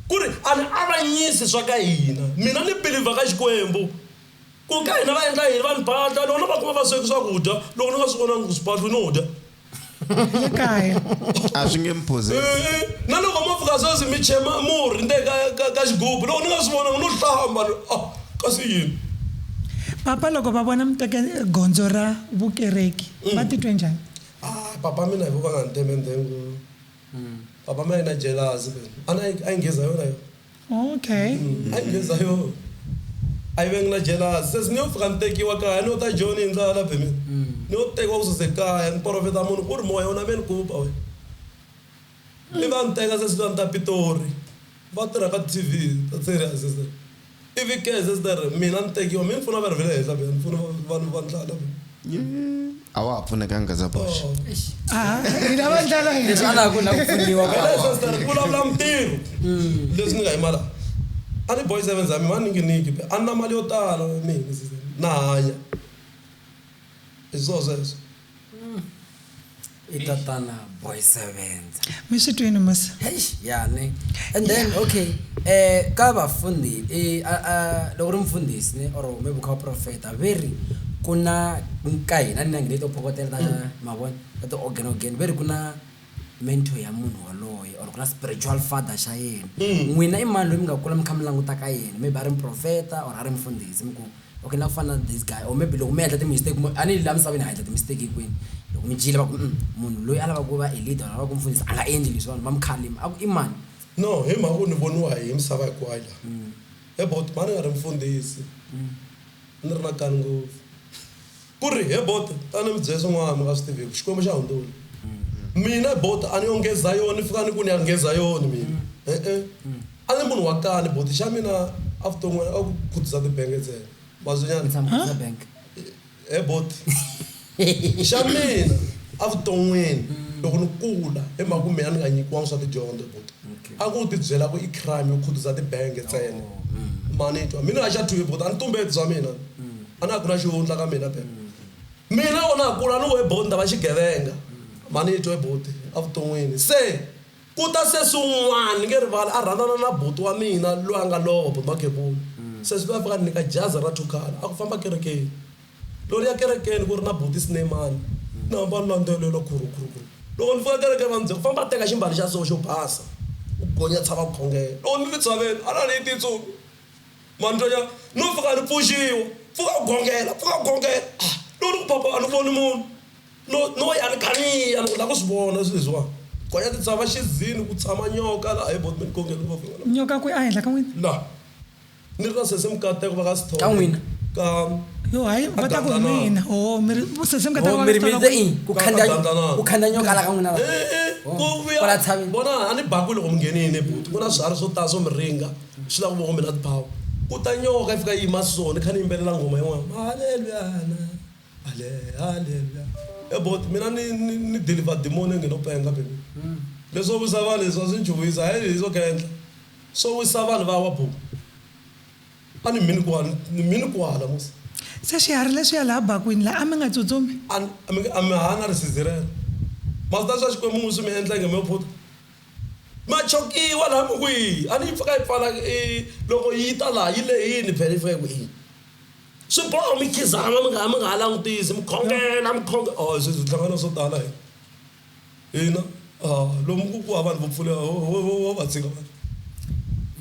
Ku ri a ni avanyisi swa ka hina, mina ni belivha ka Xikwembu. Ku ka hina va endla yini? Vanhu ba dya loko no va kuma va sweki swakudya loko ni nga swi vonangi ku swi pahlwi no dya. Le kaya. A swi nge mi phuzisi. E-e, na loko mo pfuka sweswi mi che murhi ndzeni ka ka ka xigubu loko ni nga swi vonangi no hlamba ni ri ah kasi yini. Papa loko va vona mi teke gondzo ra vukereki va titwe njhani? Ah papa mina hi ku va nga ni teme ndzeni ku papa mi a yi na jelasi a yi a yi nghiza yona yo. Okay. Hayi Leza yoo ayi bengina jealous sesi ni yo fika ni tekiwa kaya ni yo ta Joni hi ndlala la Bennet ni yo tekiwa ku suze kaya ni porofeta munhu ku ri moya u na me ni ku ba wena i va ni teka sesi la ni ta Pitori va tirha ka T_V ta serious sister i vi ke sister mina ni tekiwa mi ni pfuna va ri ve le henhla ni pfuna vanhu va ndlala. a wa ha pfunekanga za box Ah, hi lava ndlala hi leswi a na ha ku na ku pfuniwa ka Wena sasa ni vulavula mintirho leswi ni nga yimala a ni boy seven zami va ninginiki be a ni na mali yo tala mina na hanya hi swo sweswo i tatana boy sevenza mi swi twini musa eish yani and then okay eh ka vafundi i a a loko ri mfundhisi ni or maybe kha profeta ve ri ku na ka hina ni na ngine to phokotela ta mavona ta ti organ organ ve ri ku na mentor ya munhu waloye or ku na spiritual father xa yena n'wina i mani loyi mi nga kula mi kha mi languta ka yena maybe a ri muprofeta or a ri mfundhisi mi ku Okay na ku fana na this guy or maybe loko mi endla ti mistake mo ani la misaveni ha endla ti mistake hinkwenu loko mi dyile va ku mm, munhu loyi a lava ku va a leader a lava ku mfundhisa a nga endli leswi vanhu va mi khalima a ku i mani no hi mhaka ku ni voniwa hi misava hinkwayo la mm. about mani nga ri mfundhisi mm. ni ri na kani ngopfu Ku ri, He Bota, ta ni mi byela swin'wana mi nga swi tiviku, Xikwembu xa hundzula. Mina, Bota, a ni yo nge Zayoni, fikani ku ni ya nge Zayoni mina. E-e. A ni munhu wa kani, Boti, xa mina avuton'wini a ku khutuza tibenge ntsena. Ma swi nyana? Tshama khutuza benge. He Boti, xa mina avuton'wini loko ni kula, hi mhaka ku mina ni nga nyikiwangi swa tidyondzo, Boti, a ku ti byela ku i crime yo khutuza tibenge ntsena. Ma ni twa? Mina, Haxa Twivi, Boti, a ni tumbeti swa mina. A na ha ku na xihundla ka mina ke? Mina loko na ha kula a ni ngo, Ebuti, ni ta va xigevenga. Manito, Ebuti, evuton'wini. Se ku ta sesi un'wana, ni nge rivali, a rhandzana na buti wa mina loyi a nga lova, Buti Makhebula. Sesi loyi a fika a ni nyika jazi ra Thukhala, a ku, Famba kerekeni. Loko ni ya kerekeni ku ri na Buti Sineyimani, ni hamba ni landzelela khuru, khuru, khuru. Loko ni fika kerekeni va ni byela ku, Famba teka ximbalo xa so xo basa, u gonya tshava khongelo. Loko ni ri tshaveni, a na ha ni yi tintsumi. mantonya no pfuka ni pfuxiwa pfuka u gongela pfuka u gongela ah, no ni ku papa a ni voni munhu no no ya ni kaniya ni ku la ku swi vona swi leswiwani gonya ti tshava xizini ku tshama nyoka la hayi botmi ni gongela ngopfu nyoka kwi a henhla ka n'wina la ni ri na sese mukateko va ka sithole ka n'wina ka yo hayi va ta ku hi mina o oh, mi ri sese mukateko oh, va ka sithole ku khanda ku khanda nyoka la ka n'wina la eh, eh, oh, ku vuya bona a ni bakwi loko mi ngenini buti ku na swiharhi swo tala swo mi ringa Swi lava ku va kombela tibawu. Ku ta nyoka yi fika yi yima so ni kha ni yimbelela nghoma yin'wana, Haleluyana, hale, haleluya. He buti mina ni ni ni deliver demon yo ngheno penga baby. Leswo wisa vanhu leswi a swi ni chuhisa he hi swo khendla. Swo wisa vanhu va wa buti. A ni mhini kwala, ni mhini kwala musi. Se swiharhi leswiya laha bakwini la a mi nga tsutsumi? A mi a mi haha na risizi rero. Ma swi tiva swa Xikwembu n'win swi mi endla inge mo phuta? Machokiwa laha mi ku yini? A ni yi pfuka yi pfala i loko yi ta laha yi lehini vhele yi fika yi ku yini? Swi boha mi khizama mi nga ha mi nga ha langutisi mi khongela mi khongela a sweswi hi hlangana na swo tala hina hina a lomu ku ku hava vanhu vo pfuleka ho ho ho ho va tshika vanhu.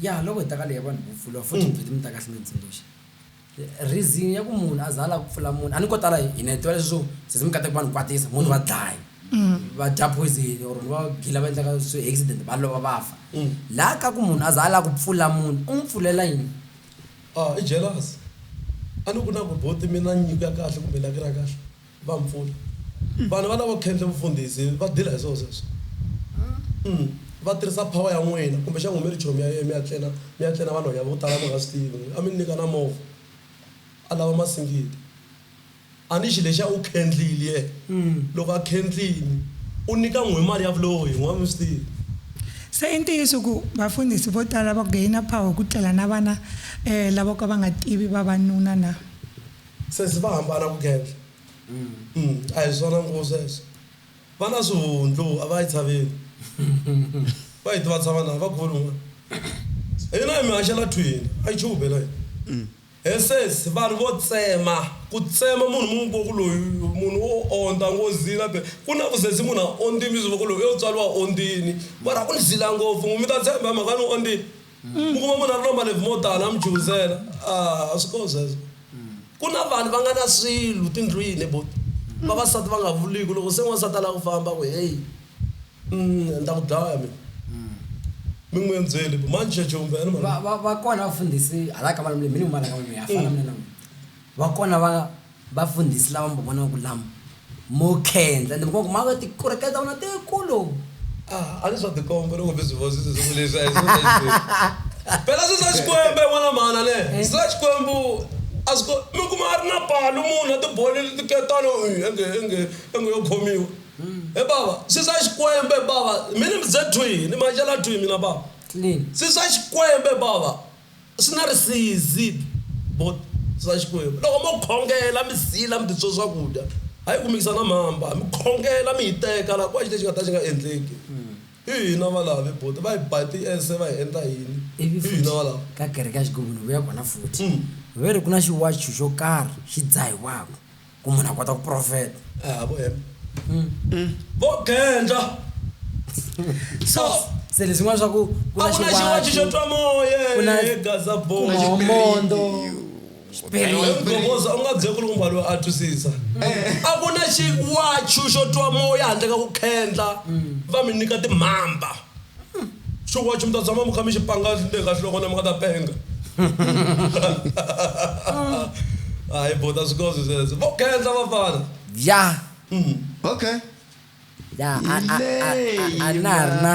Ya loko hi ta ka leyi ya vanhu vo pfuriwa futhi mi vhete mi ta kahle mi hi tsundzuxa. Reason ya ku munhu a za a lava ku pfula munhu a ni ko tala hi hina hi tiva leswi swo sesi mi kata ku va ni kwatisa munhu va dlaya va dya poison or ni va gila va endlaka swi accident va lova va fa laha ka ku munhu a za a lava ku pfula munhu u n'wi pfulela yini i jealous a ni ku na ku buti mi na nyiko ya kahle kumbe lucky ra kahle Va mpfula. Vanhu va lavo khendle vufundhisi va dila hi swo sweswo. Umm va tirhisa power ya n'wina kumbe xangu mi ri chomi ya yena mi ya tlena mi ya tlena vanhwanya vo tala mi nga swi tivi n'wina a mi ni nyika na movha a lava masingita a ni xi lexiya u khendlile yena loko a khendlini u nyika n'wina mali ya vuloyi n'wina a mi swi tivi. Se i ntiyiso ku vafundhisi vo tala va gainer power ku tlela na vana lavo ka va nga tivi vavanuna na? Sesi va hambana ku gendla. Umm a hi swona ngho sweswo. Va na swihundlu a va yi tshaveli. Va yi tiva tshava na vakhuvuri van'wana. Hina hi mi haxela thwini a yi chube na hina. He sesi vanhu vo tsema ku tsema munhu mi n'wi voko loyi munhu u ondza ngozini a be ku na ku sesi munhu a ondzini mi swi voko loyi u yo tswariwa ondzini mara u ni zila ngopfu mi ta tshemba hi mhaka ni ondzini. Mi kuma munhu a ri no malembe mo tala a mi chuhisela a a swi kona sweswo ku na vanhu va nga na swilo tindlwini he buti vavasati va nga vuliku loko se n'wansati a la ku famba a ku heyi ni ta ku dlaya mina mi n'wi endzele ku manji xa jumbo ya ni va va va kona vafundhisi hala ka malembe hi fana na n'wina va kona va. Vafundhisi lava mbo vona ku lama mo khendla, ende mbo ku ma va tikureke ta vona tikulu. Ah, a ni swa tikomba loko mi swi vona swi saseka leswi, a hi swona hinkwenu. Phela swi swa Xikwembu, hi vona mhana ne? Swi swa Xikwembu a swi ko, mi kuma a ri na palu munhu a tibolele tiketana, ii, a nge, a nge, a nge yo khomiwa. He bava, swi swa Xikwembu, he bava, mi ni mbyze thwii, ni ma cela thwii mina bava. Swi swa Xikwembu, he bava. Swi nga ri siizip, bot, swa Xikwembu. Loko mo khongela, mi zila, mi titswo swakudya, ha yi kumekisa na mhamba, mi khongela, mi hiteka, la kuva xi lexi nga ta xi nga endleki. I hina valavi, bot, va hi ba tiese, va hi endla yini? Ivi I hina futhi, valavi. ka kereke ya Xigubu ni vuya kona futhi, va ri, Ku na xiwacu xo karhi xi dzahiwaka. ku munhu a kota ku profeta ah, mm. vo gendla so se leswin'wana swa ku ku na xiwaci xo twa moya egazabomondo mgovoza u nga byeki ri kumba loyi a twisisa a ku na xiwachu xo twa moya handle ka ku khendla mm. va mi nyika timhamba xiwachi mi ta tshama mi kha mi xi panga le ka nhloko na mi nga ta penga hayi bo ta swi kozi sweswo vo khensa vafana ya okay ya a- a- a- a- a na ha ri na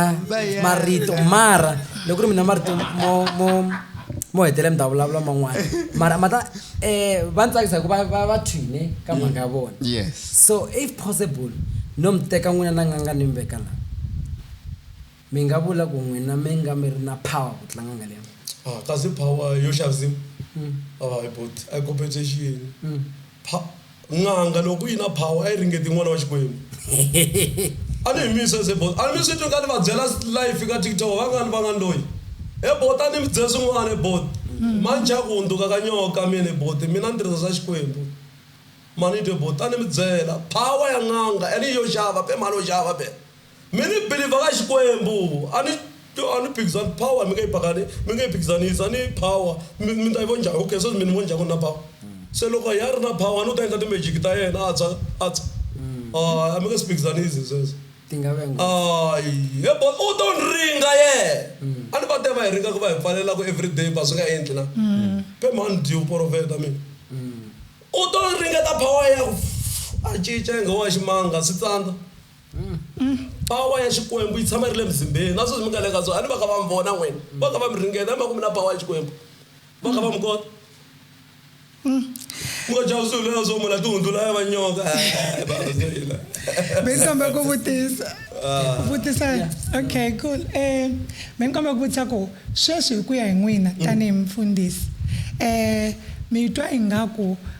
marito mara loko ku ri mina marito mo mo mo hetelela mi ta vulavula man'wana mara ma ta um va ni tsakisa hi ku va va- va thwine ka mhaka ya vona yes so if possible no mi teka n'wina na nganga ni mi veka la Mi nga vula ku n'wina mi nga mi ri na power ku tlanga nga leya. Ah, kasi power yo xaviwa? Hayi buti, a yi compensation yini? Pha, n'anga loko yi na power a yi ringeti n'wana wa Xikwembu. A ni hi mi yisese bo. A mi swi twi ka ni va byela live ka TikTok, va nga ni va nga ni loyi. He buti a ni mi byela swin'wana he buti. Ma ni chava ku hundzuka ka nyoka mina he buti, mina ni tirhisa swa Xikwembu. Ma ni twe buti a ni mi byela, power ya n'anga and hi yo xava be mhani ho xava be. Mi ni biliva ka Xikwembu. A ni, a ni phikizani power, mi nge yi pakani, mi nge yi phikizanisi. A ni power, mi, mi ta yi vonja. Okay, sweswi mi ni vonja ku ni na power. Se loko ya ri na power, a ni u ta endla ti-magic ta yena, a tshwa, a tshwa. Hayi, a mi nge swi phikizanisi hi sweswo. Ti nga va nghozi. Hayi, he bo, u to ni ringa yena. A ni va te va hi ringa ku va hi pfalela ku everyday ba swi nga endli na? Phe mhani dyi u porofeta mina. U to ringeta power ya ku, a cinca ingawa i ximanga, swi tsandza. Pawa ya Xikwembu yi tshama yi ri le muzimbeni. Na sweswi mi nga le ka swona, a ni va kha va mi vona n'wina. Va kha va mi ringeta hi mhaka ku mi na pawa ya Xikwembu. Va kha va mi kota. Ku nga jaha swilo leswo munhu a tihundzula ya va nyoka. Hayi, bava se hina. Be ni kombela ku vutisa. Ku vutisa. Okay, cool. Um, be ni kombela ku vutisa ku sweswi hi ku ya hi n'wina tanihi mufundhisi, um, mi twa ingaku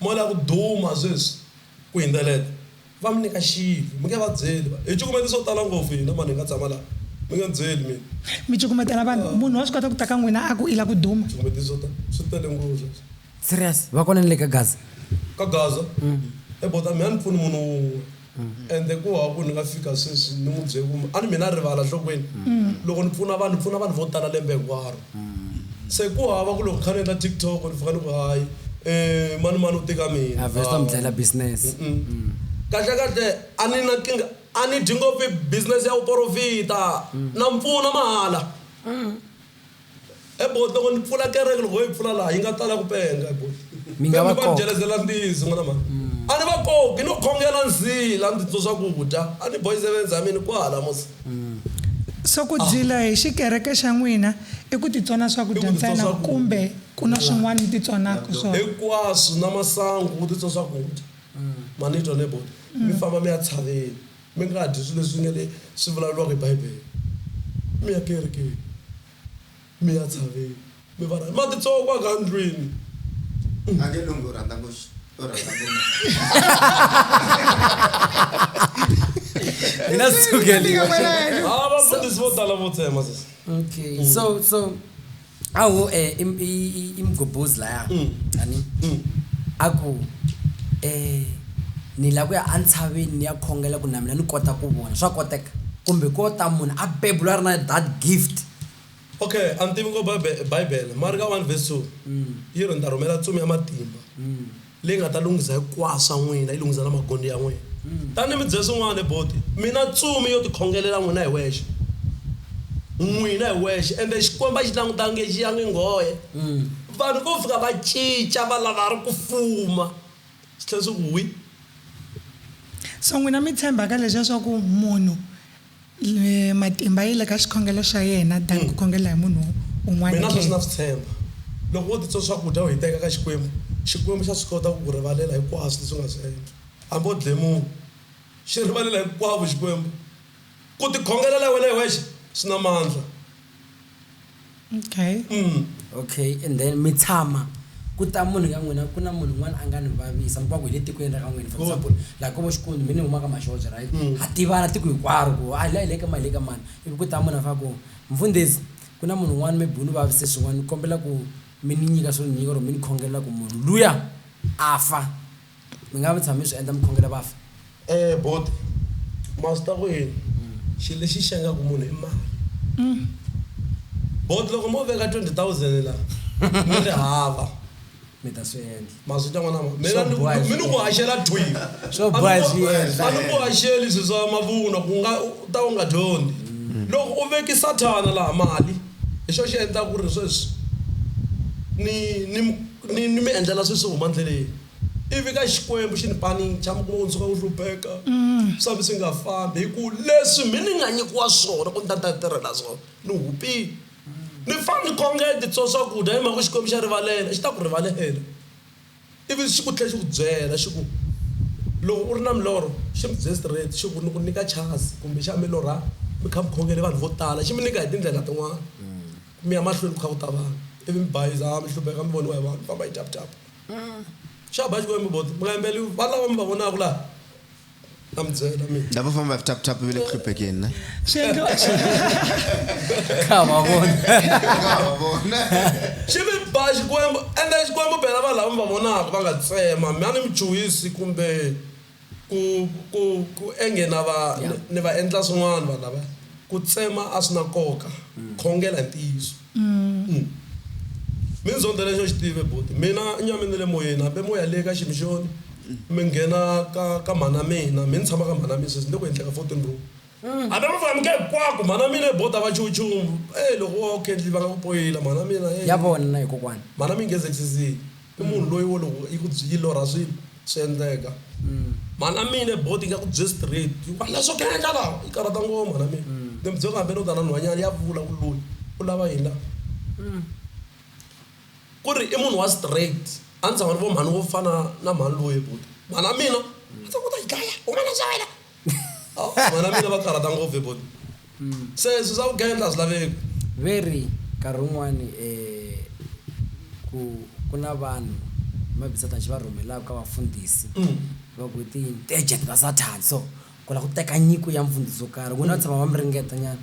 Mo la ku duma sweswi ku hindzeleta. Va mi nyika xivi. Mi nge va byeli, va, Hi cukumete swo tala ngopfu hina, mani hi nga tshama laha. Mi nge ni byeli mina. Mi cukumetela vanhu. Munhu wa swi kota ku ta ka n'wina a ku, I la ku duma. Cukumete swo tala. Swi tele ngopfu sweswi. Serious? Va kona ni le ka Gaza? Ka Gaza? Hi bodo a mi ha ni pfuni munhu wun'we. Ende ku hava ku ni nga fika sweswi ni n'wi bye kumbe a ni mina rivala nhlokweni. Loko ni pfuna vanhu ni pfuna vanhu vo tala lembe hinkwaro. Se ku hava ku loko ni kha ni endla TikTok ni fika ni ku hayi mani mani u te ka mina. A vheta mi dlayela business. Kahle kahle a ni na nkingha a ni dyi ngopfu business ya vuporofita na mi pfuna mahala. E bo loko ni pfula kereke loko ho yi pfula laha yi nga tala ku penga bo Mi nga va Pembe va koka. dyelezela mbizi n'wana mhani a ni va koki no khongela ndzila ndzi twa swakudya a ni boys events a mini kwahala mos So ku dyila hi xikereke xa n'wina i ku titsona I swakudya ku titswa ntsena swakudya. kumbe ku na swin'wana mi titsonaka swona? hinkwaswo na masangu u titswa swakudya ma ni twa ne bo mi famba mi ya tshaveni Mi nga dyi swilo leswi nga le swi vulavuriwaka hi Bibele. Mi ya kerekeni, mi ya tshaveni, mi va rhandza. Ma titsongwa ka ndlwini. A nge lunghi u rhandza ku u rhandza ku Hi na sukeli. Tika kwalaho. Ah, vafundhisi vo tala vo tsema sesi. Okay. So so Awu eh im- i- i- imgobhozi laya chani a ku eh ni lava ku ya entshaveni ni ya khongela ku na mina ni kota ku vona swa koteka kumbe ko ta munhu a beburiwa a ri na that gift Okay a ni tivi ngo bible bible mara ka one verse two yi ri ni ta rhumela ntsumi ya matimba. Leyi nga ta lunghisa hikwaswu swa n'wina, yi lunghisa na magondo ya n'wina. Tani mi dze swin'wana hi boti, mina tsumi yo tikhongelela n'wina hi wexe, n'wina hi wexe, ende Xikwembu a xi languta nge xi ya nge nghohe. Vanhu vo fika va cinca, va lava ri ku fuma, swi tlhela swi ku wi. So n'wina mi tshemba ka leswiya swa ku munhu Matimba yi le ka xikhongelo xa yena than ku khongela hi munhu un'wana Mina sweswi na ke? swi tshemba. Loko wo titwa swakudya u hiteka eka Xikwembu, Xikwembu xa swi kota ku ku rivalela hinkwaswo leswi u nga swi endla. Hambi u dle munhu, xi rivalela hinkwavo Xikwembu. Ku tikhongelela wena hi wexe swi na mandla. okay mm. okay and then mi tshama ku ta munhu ka n'wina ku na munhu un'wana a nga ni vavisa mi va ku hi le tikweni ra ka n'wina for example laha ko vo xikwembu mi ni huma ka maxoja right mm. ha tivana tiko hinkwaro ku a la hi le ka mali le ka mani ivi ku ta munhu a fa ku mfundhisi ku na munhu un'wana maybe u ni vavise swin'wana ni kombela ku mi ni nyika swo ni nyika or mi ni khongelela ku munhu luya a fa Mi nga vi tshami mi swi endla mi khongela vafi? E buti, ma swi tiva ku yini? Xilo lexi xengaka munhu i mali. Buti, loko mo veka twenty thousand la mi ri hava. Mi ta swi endla. Ma swi twa n'wana wa mina? Swo boha hi swi endla. Mi ni ku haxela thwi. Swo boha hi swi endla. A ni ku haxeli swilo swa mavunwa ku nga u ta u nga dyondzi. Loko u veke sathana laha mali. Hi xo xi endla ku ri sweswi ni ni ni ni mi endlela sweswi huma ndleleni. Ivi ka Xikwembu xi ni panicha, mi kuma ku ni suka ku hlupheka, swa mi swi nga fambi hi ku leswi mhe ni nga nyikiwa swona ku ni ta ni ta tirhela swona ni hupile. Ni fa ni khongeti so swakudya hi mhaka ku Xikwembu xa rivalela, xi ta ku rivalela. Ivi xi ku tlhela xi ku byela xi ku, Loko u ri na milorho, xi mi byele straight xi ku, Ni ku nyika chance kumbe xana mi lorha mi kha mi khongele vanhu vo tala? Xi mi nyika hi tindlela tin'wana ku mi ya mahlweni ku kha ku ta vanhu ivi mi bayiza, mi hlupheka, mi voniwa hi vanhu, mi famba hi tap-tap. Xa ba xikwembu, bodo, mi nga yimberile valava mi va vonaka laha? Ndava famba tap tap vile creep again, ne? Shendlo. Kama bona. Kama bona. Xivi ba xikwembu ende xikwembu bela va lava mi va vonaka va nga tsema mi a ni muchuhisi kumbe ku ku ku enge na va ni va endla swin'wana vanhu lava ku tsema a swi na nkoka khongela hi ntiyiso. Minzondo lexi a xi tive buti mina i nyame ni le moyeni hambi moya leyi ka ximixoni mi nghena ka ka mhana mina mi ni tshama ka mhana mina sweswi ni le ku endleni ka fourteen room hambi mi faneke hinkwako mhana mina hi bota va chumu chumu e loko wo khendli va nga ku poyila mhana mina ya vona na yi kokwana mhana mi yi nghenisisile i munhu loyi wo loko yi ku byi yi lorha swilo. Swi endleka. Mhana mina board yi nga ku bye straight yi ku a na swo ku endla laha yi karhata ngoma mhana mina. Ni mi byela hambi u ta na nhwanyana ya vula ku loyi u lava yini laha. Ku ri i munhu wa straight a ni tshama ni vona mhani wo fana na mhani loyi buti mhana mina a ni ku u ta yi dlaya huma la ndlwini ya wena. vana mina va karhata ngopfu hi bolo se swi swa vugendla a swi laveki Veri, Nkarhi wun'wana um ku ku na vanhu mabisathanxi va rhumelaka ka vafundhisi va ku i ti-agent va sathani so ku lava ku teka nyiko ya mfundhisi wo karhi n'wina va tshama va mi ringeta nyana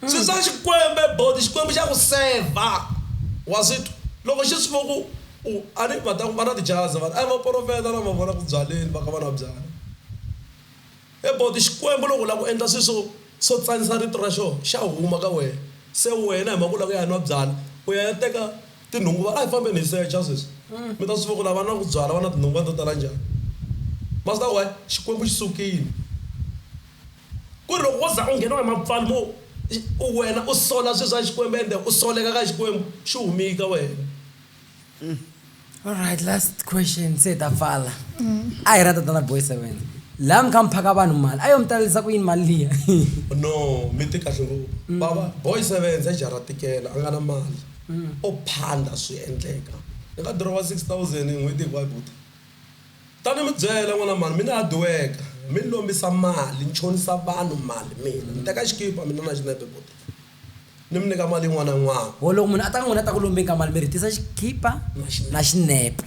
Swi swa Xikwembe boti, Xikwembu xa ku sevha. Wa swi twa? Loko xi swi vo ku u, a ni, va ta ku va na tijazi va ta, a hi vaporofeta lava vona ku byaleni va kha va na byala. He boti, Xikwembu loko u lava ku endla swilo swo, swo tsanisa Rito ra xoho, xa huma ka wena. Se wena hi mhaka u lava ku ya nwa byala, u ya ya teka tinhungu va, a hi fambeni hi secha sweswi, mi ta swi vo ku lava nwaku byala va na tinhungu va to tala njhani. Ma swi tiva why? Xikwembu xi sukile. Ku ri loko wo za u ngheniwa hi mapfalo mo u wena u sola swi swa Xikwembu ende u soleka ka Xikwembu xi humile ka wena. Alright last question se hi ta pfala. A hi ra tatana Boy Seven. Laha mi kha mi phaka vanhu mali a yo mi talerisa ku yini mali liya? No mi te kahle ngopfu. Bava Boy Seven se jara tikela a nga na mali. O phanda swi endleka. Ni nga dirowa 6000 n'hweti hinkwayo buti. Ta ni mi byela, n'wana mhani, mi ni hadiweka, mi ni lombisa mali, ni chonisa vanhu mali mina. Ni teka xikipa mina na xinepe futhi, ni mi nyika mali yin'wana na yin'wana. Vo loko munhu a ta ka n'wina a ta ku lombeni ka mali, mi rhitisa xikipa na xinepe.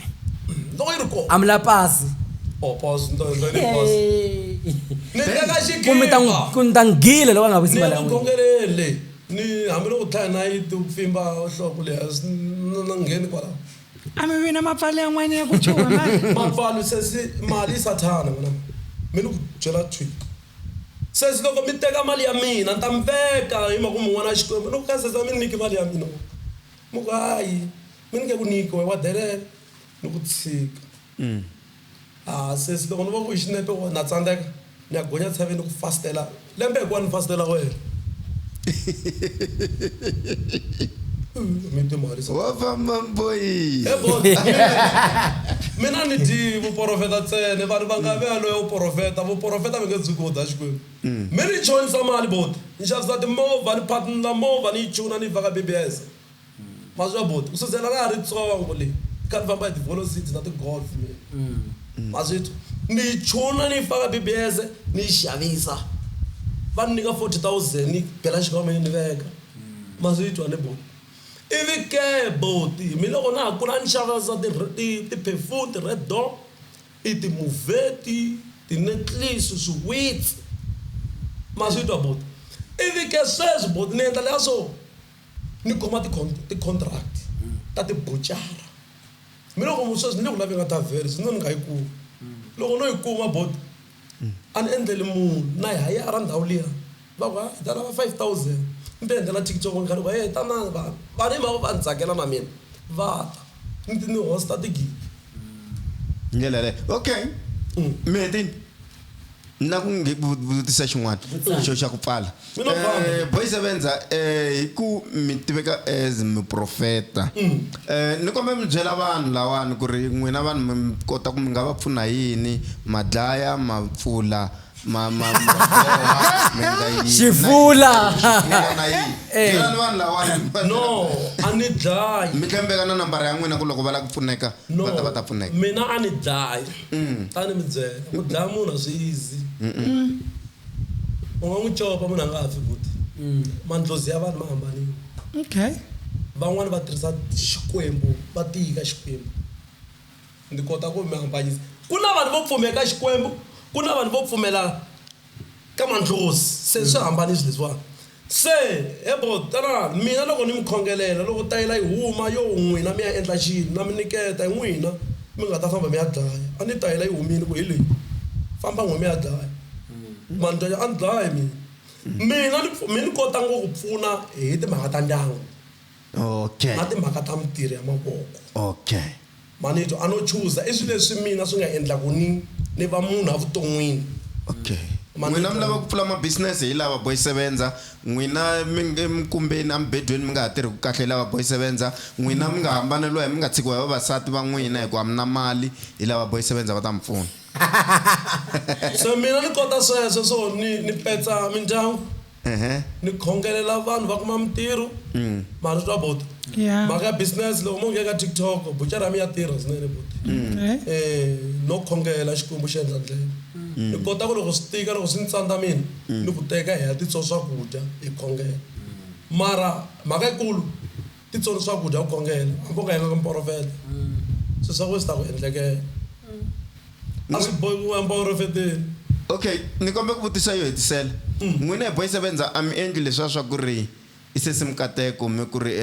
Loko yi ri kona. A mi lavi pasi? Oh, pasi, ni ta endla yini hi pasi? Ni teka xikipa. Ku mi ta n'wi, ku ni ta n'wi gila loko a nga vuyisi mali ya n'wina. Ni ya ku khongeleni, ni hambiloko u tlhaye nayiti u pfimba nhloko leyi hansi, ni nga ngheni kwalaho. A mi vi na mapfalo yan'wana ya ku chuha mali? Mapfalo sesi mali i Sathana n'wananga. Mi ni ku byela thwii. Sesi loko mi teka mali ya mina ni ta mi veka hi mhaka ku mi n'wana wa Xikwembu. Ni ku ka sesi a mi ni nyiki mali ya mina wena. Mi ku hayi mi ni nge ku nyiki wena wa delela. Ni ku tshika. Haa sesi loko ni vona ku i xinepe wa na tsandzeka ni ya gonya tshavi ni ku fastela lembe hinkwaru ni fastela wena. Mi timarisa. Wa famba mboyii. He boss mina mina ni dyi vuporofeta ntsena vanhu va nga ve loya u porofeta vuporofeta mi nge dzuki wo dya Xikwembu mi ni chonisa mali boti ni xavisa timovha ni partner movha ni yi chuna ni yi faka BBS. Mazwi a buti, ku sukela ra ha ri tsongo le kha ni famba hi ti-volocipes na ti-Golf mina, ma swi twa, ni yi chuna ni yi faka BBS ni yi xavisa va ni nyika forty thousand ni bela xikhwameni ni veka, ma swi twa ni buti. Ivi ke buti mina loko na ha kula a ni xavisa ti ti ti-perfume, ti-Red Door, i ti-Mourvèdre, ti-necklace, swiwitsi ma swi twa buti. Ivi ke sweswi buti ni endla le ya swo. ni kuma ti-contract ta tibucara mi loko mu sweswi ni le ku laveni ka taveri swi no ni nga yi kumi loko no yi kuma bot a ni endleli munhu na hayara ndhawu liya va ku hi ta lava five thousand ni ti endlela thikithi loko ni kha ni ku he tanani vanhu vanhu hi mhaka ku va ni tsakela na mina va ta ni ti ni host-a tigidi hi ndlela yaleyo okay Meti ni la ku nge ku vutisa xin'wana xo xa ku pfala Eh, boys evenza eh, hi ku mi tiveka as miprofeta Eh, ni kombe mi byela vanhu lawani ku ri n'wina vanhu mi mi kota ku mi nga va pfuna hi yini ma dlaya ma pfula ma ma ma boha mi endla yini Xivula. na yini, na yini. Eh. Byela ni vanhu lawani no a ni dlayi mi tlembeka na nambara ya n'wina ku loko va lava ku pfuneka va ta va ta pfuneka mina a ni dlayi A ni mi byela, ku dlaya munhu a swi easy. U nga n'wi copa munhu a nga ha fi futhi. Mandlhozi ya vanhu ma hambanile. Van'wana va tirhisa Xikwembu, va tiyika Xikwembu. Ni kota ku mi hambanyisa. Ku na vanhu vo pfumela ka Xikwembu, ku na vanhu vo pfumela. Ka mandlhozi, se swi hambanisi leswiwani. Se, he bo, tanani, mina loko ni mi khongelela, loko tayela yi huma, yoo, n'wina mi ya endla xini? Na mi niketa, hi n'wina mi nga ta famba mi ya dlaya. A ni tayela yi humile, ku hi leyi, famba n'we mi ya dlaya. Ma ni twa njhani? A ni dlayi mina. Mina ni, mi ni kota ngo ku pfuna hi timhaka ta ndyangu. okay na timhaka ta mitirho ya mavoko okay manito ano chuza i swilo leswi mina swi nga endla ku ni ni va munhu evuton'wini okay n'wina mi lava ku pfula ma business hi lava boy sevenza n'wina mi mkumbeni amibedweni mi nga ha tirhi ku kahle hi lava boy sevenza n'wina mi nga hambaneliwa hi mi nga tshikiwa hi vavasati va n'wina hikuva mi na mali hi lava boy sevenza va ta mi pfuna so mina ni kota sweswo swo ni ni petsa mindyangu ni khongelela vanhu va kuma mintirho mara swa buti Yeah. mhaka ya business loko mo nghena ka tiktok buchara ya mi ya tirha swinene buti um no khongela xikwembu xi endla ndlela ni kota ku loko swi tika loko swi ni tsandza mina ni ku teka hi ya titswa swakudya hi khongela mara mhaka yikulu Titsoni swakudya u khongela, hambi u nga yanga ka muporofeta, swilo swa wena swi ta ku endlekela. A swi bohi ku u ya muporofeteni. Okay, ni kombela ku vutisa yo hetisela. N'wina hi boys ven za a mi endli leswiya swa ku ri i sesi Mkateko mi ku ri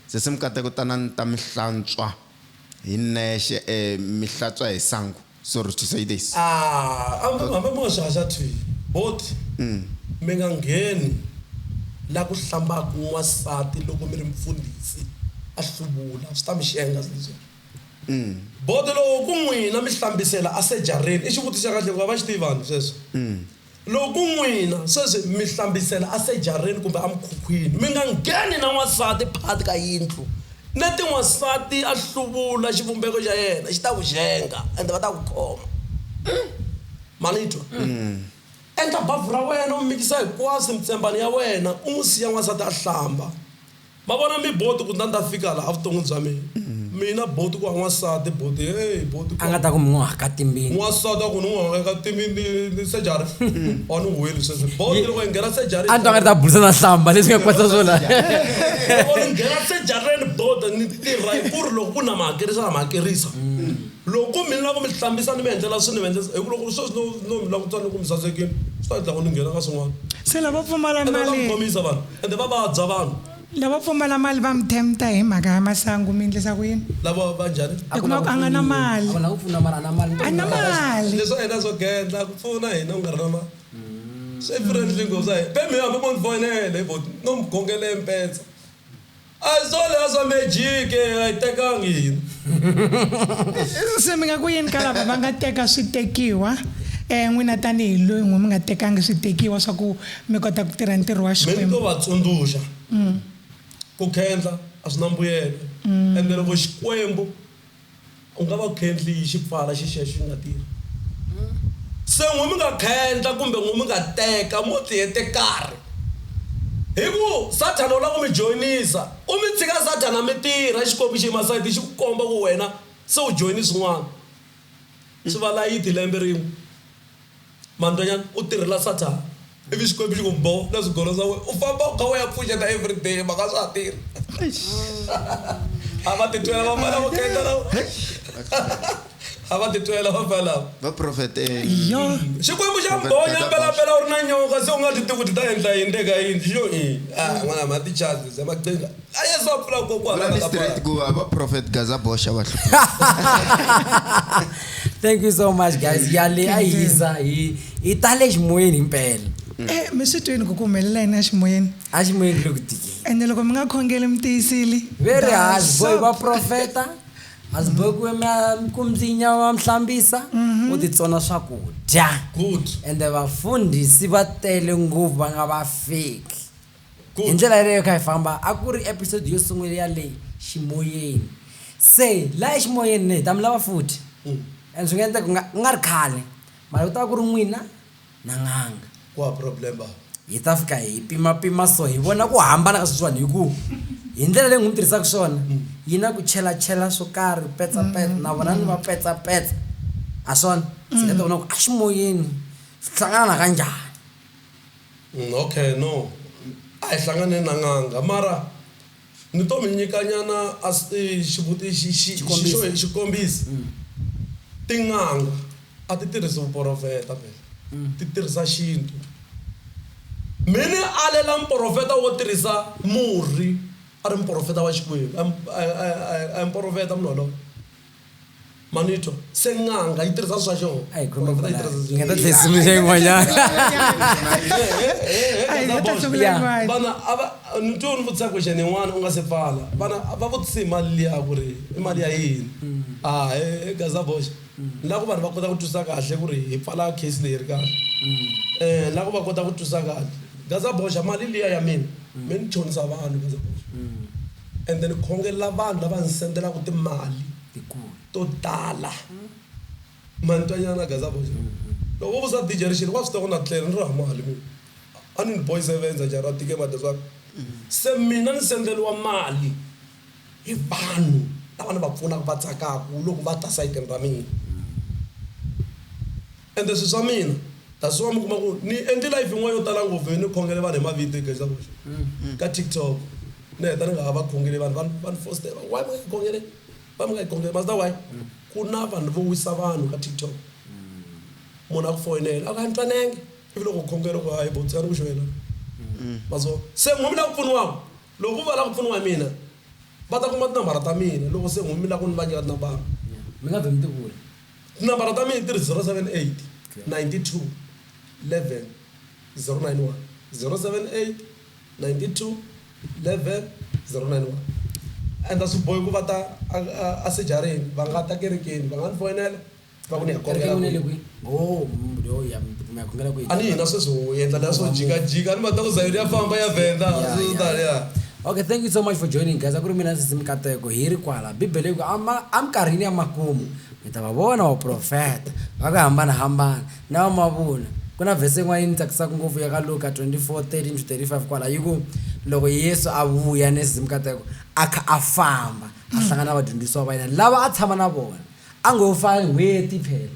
sesi Mkateko tanani ni ta mi hlantswa hi nexe mi hlatswa hi sangu. Sorry to say this. Aah hambi hambi mi nga swi haxati both mi nga ngheni la ku hlambaku n'wansati loko mi ri mfundhisi a hluvula swi ta mi xenga se leswiya. Bodo loko ku n'wina mi hlambisela a sejareni i xivutiso xa kahle hikuva va xi tivani sweswo. Loko n'wina sweswi mi hlambisela asejareni kumbe amukhukhwini, mi nga ngheni na n'wansati phakathi ka yindlu. Neti n'wansati a hluvula xivumbeko xa yena, xi ta ku xenga, ende va ta ku khoma. Umm! Ma ni twa? Endla bavhu ra wena, u mikisa hinkwaswo mitsembani ya wena, u n'wi siya n'wansati a hlamba. Ma vona mi boti ku ndza ndza fika la avuton'wini bya mina. Mina boti ku a n'wansati boti hey boti ku. A nga ta ku mi n'wi haka timbindzi. N'wansati a ku ni n'wi haka timbindzi ni surgery or ni whale sweswi boti loko hi nghena surgery. A ni twa nga ri ta burisana hlamba leswi nga kwatisa swona. Loko ni nghena surgery ni boti ni tirha hi ku ri loko ku na mi hakerisa na mi hakerisa. Loko ku mi ni lava ku mi hlambisa ni mi endlela swilo ni mi endlisa hi ku loko sweswi no no mi langutisa ni ku mi sasekile swi ta endla ku ni nghena ka swin'wana. Se lavo pfumala mali. Ni ta mi khomisa vanhu. ende va vabya vanhu lavo pfumala mali va mi tempta hi mhaka ya masangu mi endlisa ku yini lavo va njhani i kuma ku a nga na mali a na mali leswi hina swo gendla ku pfuna hina u nga ri na mali swi friendly ngopfu sa hina pembe hambi mo ni foyinele hi vhoti no mi gongele mpetsa A solo ya swa magic eh, a yi tekangi se mi nga ku yini ka lava va nga teka switekiwa um n'wina tanihi loyi n'wi mi nga tekangi switekiwa swa ku mi kota ku tirha ntirho wa xikwembu mi ni to va tsundzuxa mm. ku khendla a swi na mbuyelo mm. ende loko xikwembu U nga va khendli yi xi pfala xi xiya xi nga tirhi. Se n'wi mi nga khendla kumbe n'wi mi nga teka mo ti hete karhi. Hi ku Sathana u lava ku mi joyinisa. U mi tshika Sathana mi tirha, Xikwembu xi yima sayiti xi ku komba ku wena se u joyine swin'wana. Swi va layiti lembe rin'we. Mandanyana u tirhela Satan ivi Xikwembu xi ku mbo na swigolo swa wena u famba u kha u ya pfuxeta everyday mhaka a swa ha tirhi. A va titwela vafana lavo khendla lava. A va titwela vafana lava. Va profetela. Xikwembu xa mbo nyambela mpela u ri na nyoka se u nga swi tivi ku ti ta endla yini le ka yindlu yo i a n'wana ma ti chazi ze maqhinga. a yesu a pfula kokwana vula ni ka straight pala. ku hava prophet gaza boxa va hlupheka thank you so much guys yale a yi hisa hi hi tale ximoyeni himpela Eh, mi swi twini ku ku humelela yini eximoyeni a ximoyeni le ku tikeni ende loko mi nga khongeli mi tiyisile ve ri hasboy va profeta hasboy ku ma- ku mdlinya wa mhlambisa u titsona swakudya good ende vafundhisi va tele ngopfu va nga va feki Hi ndlela yaleyo hi kha hi famba, a ku ri episode yo sungula ya le ximoyeni. Se la eximoyeni ni ta mi lava futhi. And swi nga endleka ku nga, ku nga ri khale, mara ku ta va ku ri n'wina na n'anga. Ku hava problem bava. Hi ta fika hi pimapima so hi vona ku hambana ka sweswiwani hi ku hi ndlela leyi n'wi tirhisaka swona yi na ku chelachela swo karhi, petsapetsa, na vona ni va petsapetsa. Ha swona? Se hi ta vona ku eximoyeni swi hlangana na kanjhani. Okay no a hi hlanganeni na n'anga mara ni to mi nyika nyana a xivutiso xi xo hi xikombiso tin'anga a ti tirhisa vuporofeta vhele ti tirhisa xintu mi ni alela muporofeta wo tirhisa murhi a ri muporofeta wa Xikwembu a a a a hi muporofeta munhu waloye. manito se n'anga yi tirhisa swa xona A hi khome Vanhu va yi kwala. tirhisa Hi nga ta tlhe hi sungula yin'wanyana. Ai, nga ta sungula Yeah. yin'wana. vana a va ni twe ni vutisa question yin'wana u nga se pfala vana a va vutise hi mali liya ku ri i mali ya yini a e gaza box ni la ku vanhu va kota ku twisisa kahle ku ri hi pfala case leyi ri kahle um ni la ku va kota ku twisisa kahle gaza boxa mali liya ya mina mi ni chonisa vanhu gaza boxa Ende ni khongelela vanhu lava ni sendelaku timali to tala. Ma ni twa nyana gaza boys? Loko vo vusa DJ Rixile wa swi tiva ku na tlele ni ri ha mali mina. A ni ri boys e vendza njhani ra tikema that's why. Se mina ni sendeliwa mali hi vanhu lava ni va pfunaku va tsakaku loko va ta sayitini ra mina. Ende swi swa mina. That's why mi kuma ku ni endli live yin'wana yo tala ngopfu yo ni khongele vanhu hi mavito eka Exavuxeni ka TikTok. Ni heta ni nga ha va khongeli vanhu va va ni fositela why mi nga hi khongele why mi nga hi khongele ma swi tiva why ku na vanhu vo wisa vanhu ka TikTok munhu a ku foyinela a ku a ni twanangi ivi loko u khongela ku hayi bo tshika ni ku xo yena ma swi vona se n'wina mi lava ku pfuniwaka loko va lava ku pfuniwa hi mina va ta kuma tinambara ta mina loko se n'wina mi lava ku ni vangela tinambara mi nga vheli mi ti vula. Tinambara ta mina ti ri 078 92 11 091, 078 92 11 091 and a swi bohi ku va ta asejareni va nga ta kerekeni va nga ni foyinela va ku ni ya kombela Oh, a ni hina sweswi ho endla leswo jikajika a ni va ta ku zayoni ya famba ya vhenda swi tani ya Okay thank you so much for joining guys a ku ri mina sisi mikateko hi ri kwala bibele yi ku ama eminkarhini ya makumu mi ta va vona vaprofeta va ku hambanahambana na va mavuna ku na vhese yin'wana yi ni tsakisaka ngopfu ya ka luka 24 13 to 35 kwala yi ku loko yesu a vuya ni sisi mikateko a kha a famba a hlangana na vadyondzisiwa va yena lava a tshama na vona a ngo fa n'hweti phela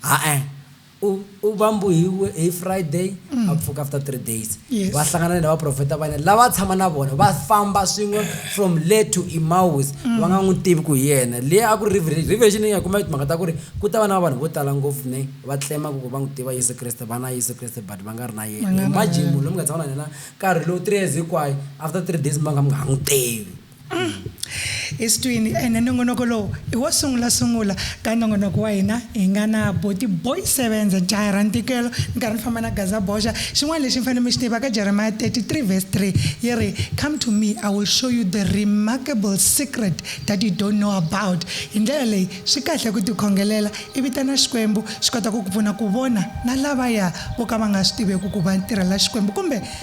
ha-e U, u vambuhiwe hi Friday, a pfuka after three days. Yes. Va hlangana ni vaprofeta va yena lava a tshama na vona va famba swin'we from le to Emmaus va nga n'wi tivi ku hi yena. Leyi a ku ri reve- revelation leyi nga kuma timhaka ta ku ri ku ta va na vanhu vo tala ngopfu ne va tlema ku va n'wi tiva Yesu Kreste va na Yesu Kreste but va nga ri na yena. Imagine munhu loyi mi nga tshama na yena nkarhi lowu three years hinkwayo after three days mi va mi nga ha n'wi tivi. eswitwini ene nongonoko lowu i wo sungulasungula ka nongonoko wa hina hi nga na boti boy sevenza jaya ra ntikelo ni karhi ni famba na gaza boxa xin'wana lexi mi fanele mi xi tiva ka jeremiya 33 verse 3 yi ri come to me i will show you the remarkable secret that you don't know about hi ndlela leyi swi kahle ku tikhongelela i vitana xikwembu xi kota ku ku pfuna ku vona na lavaya vo ka va nga swi tiveki ku va tirhela xikwembu kumbe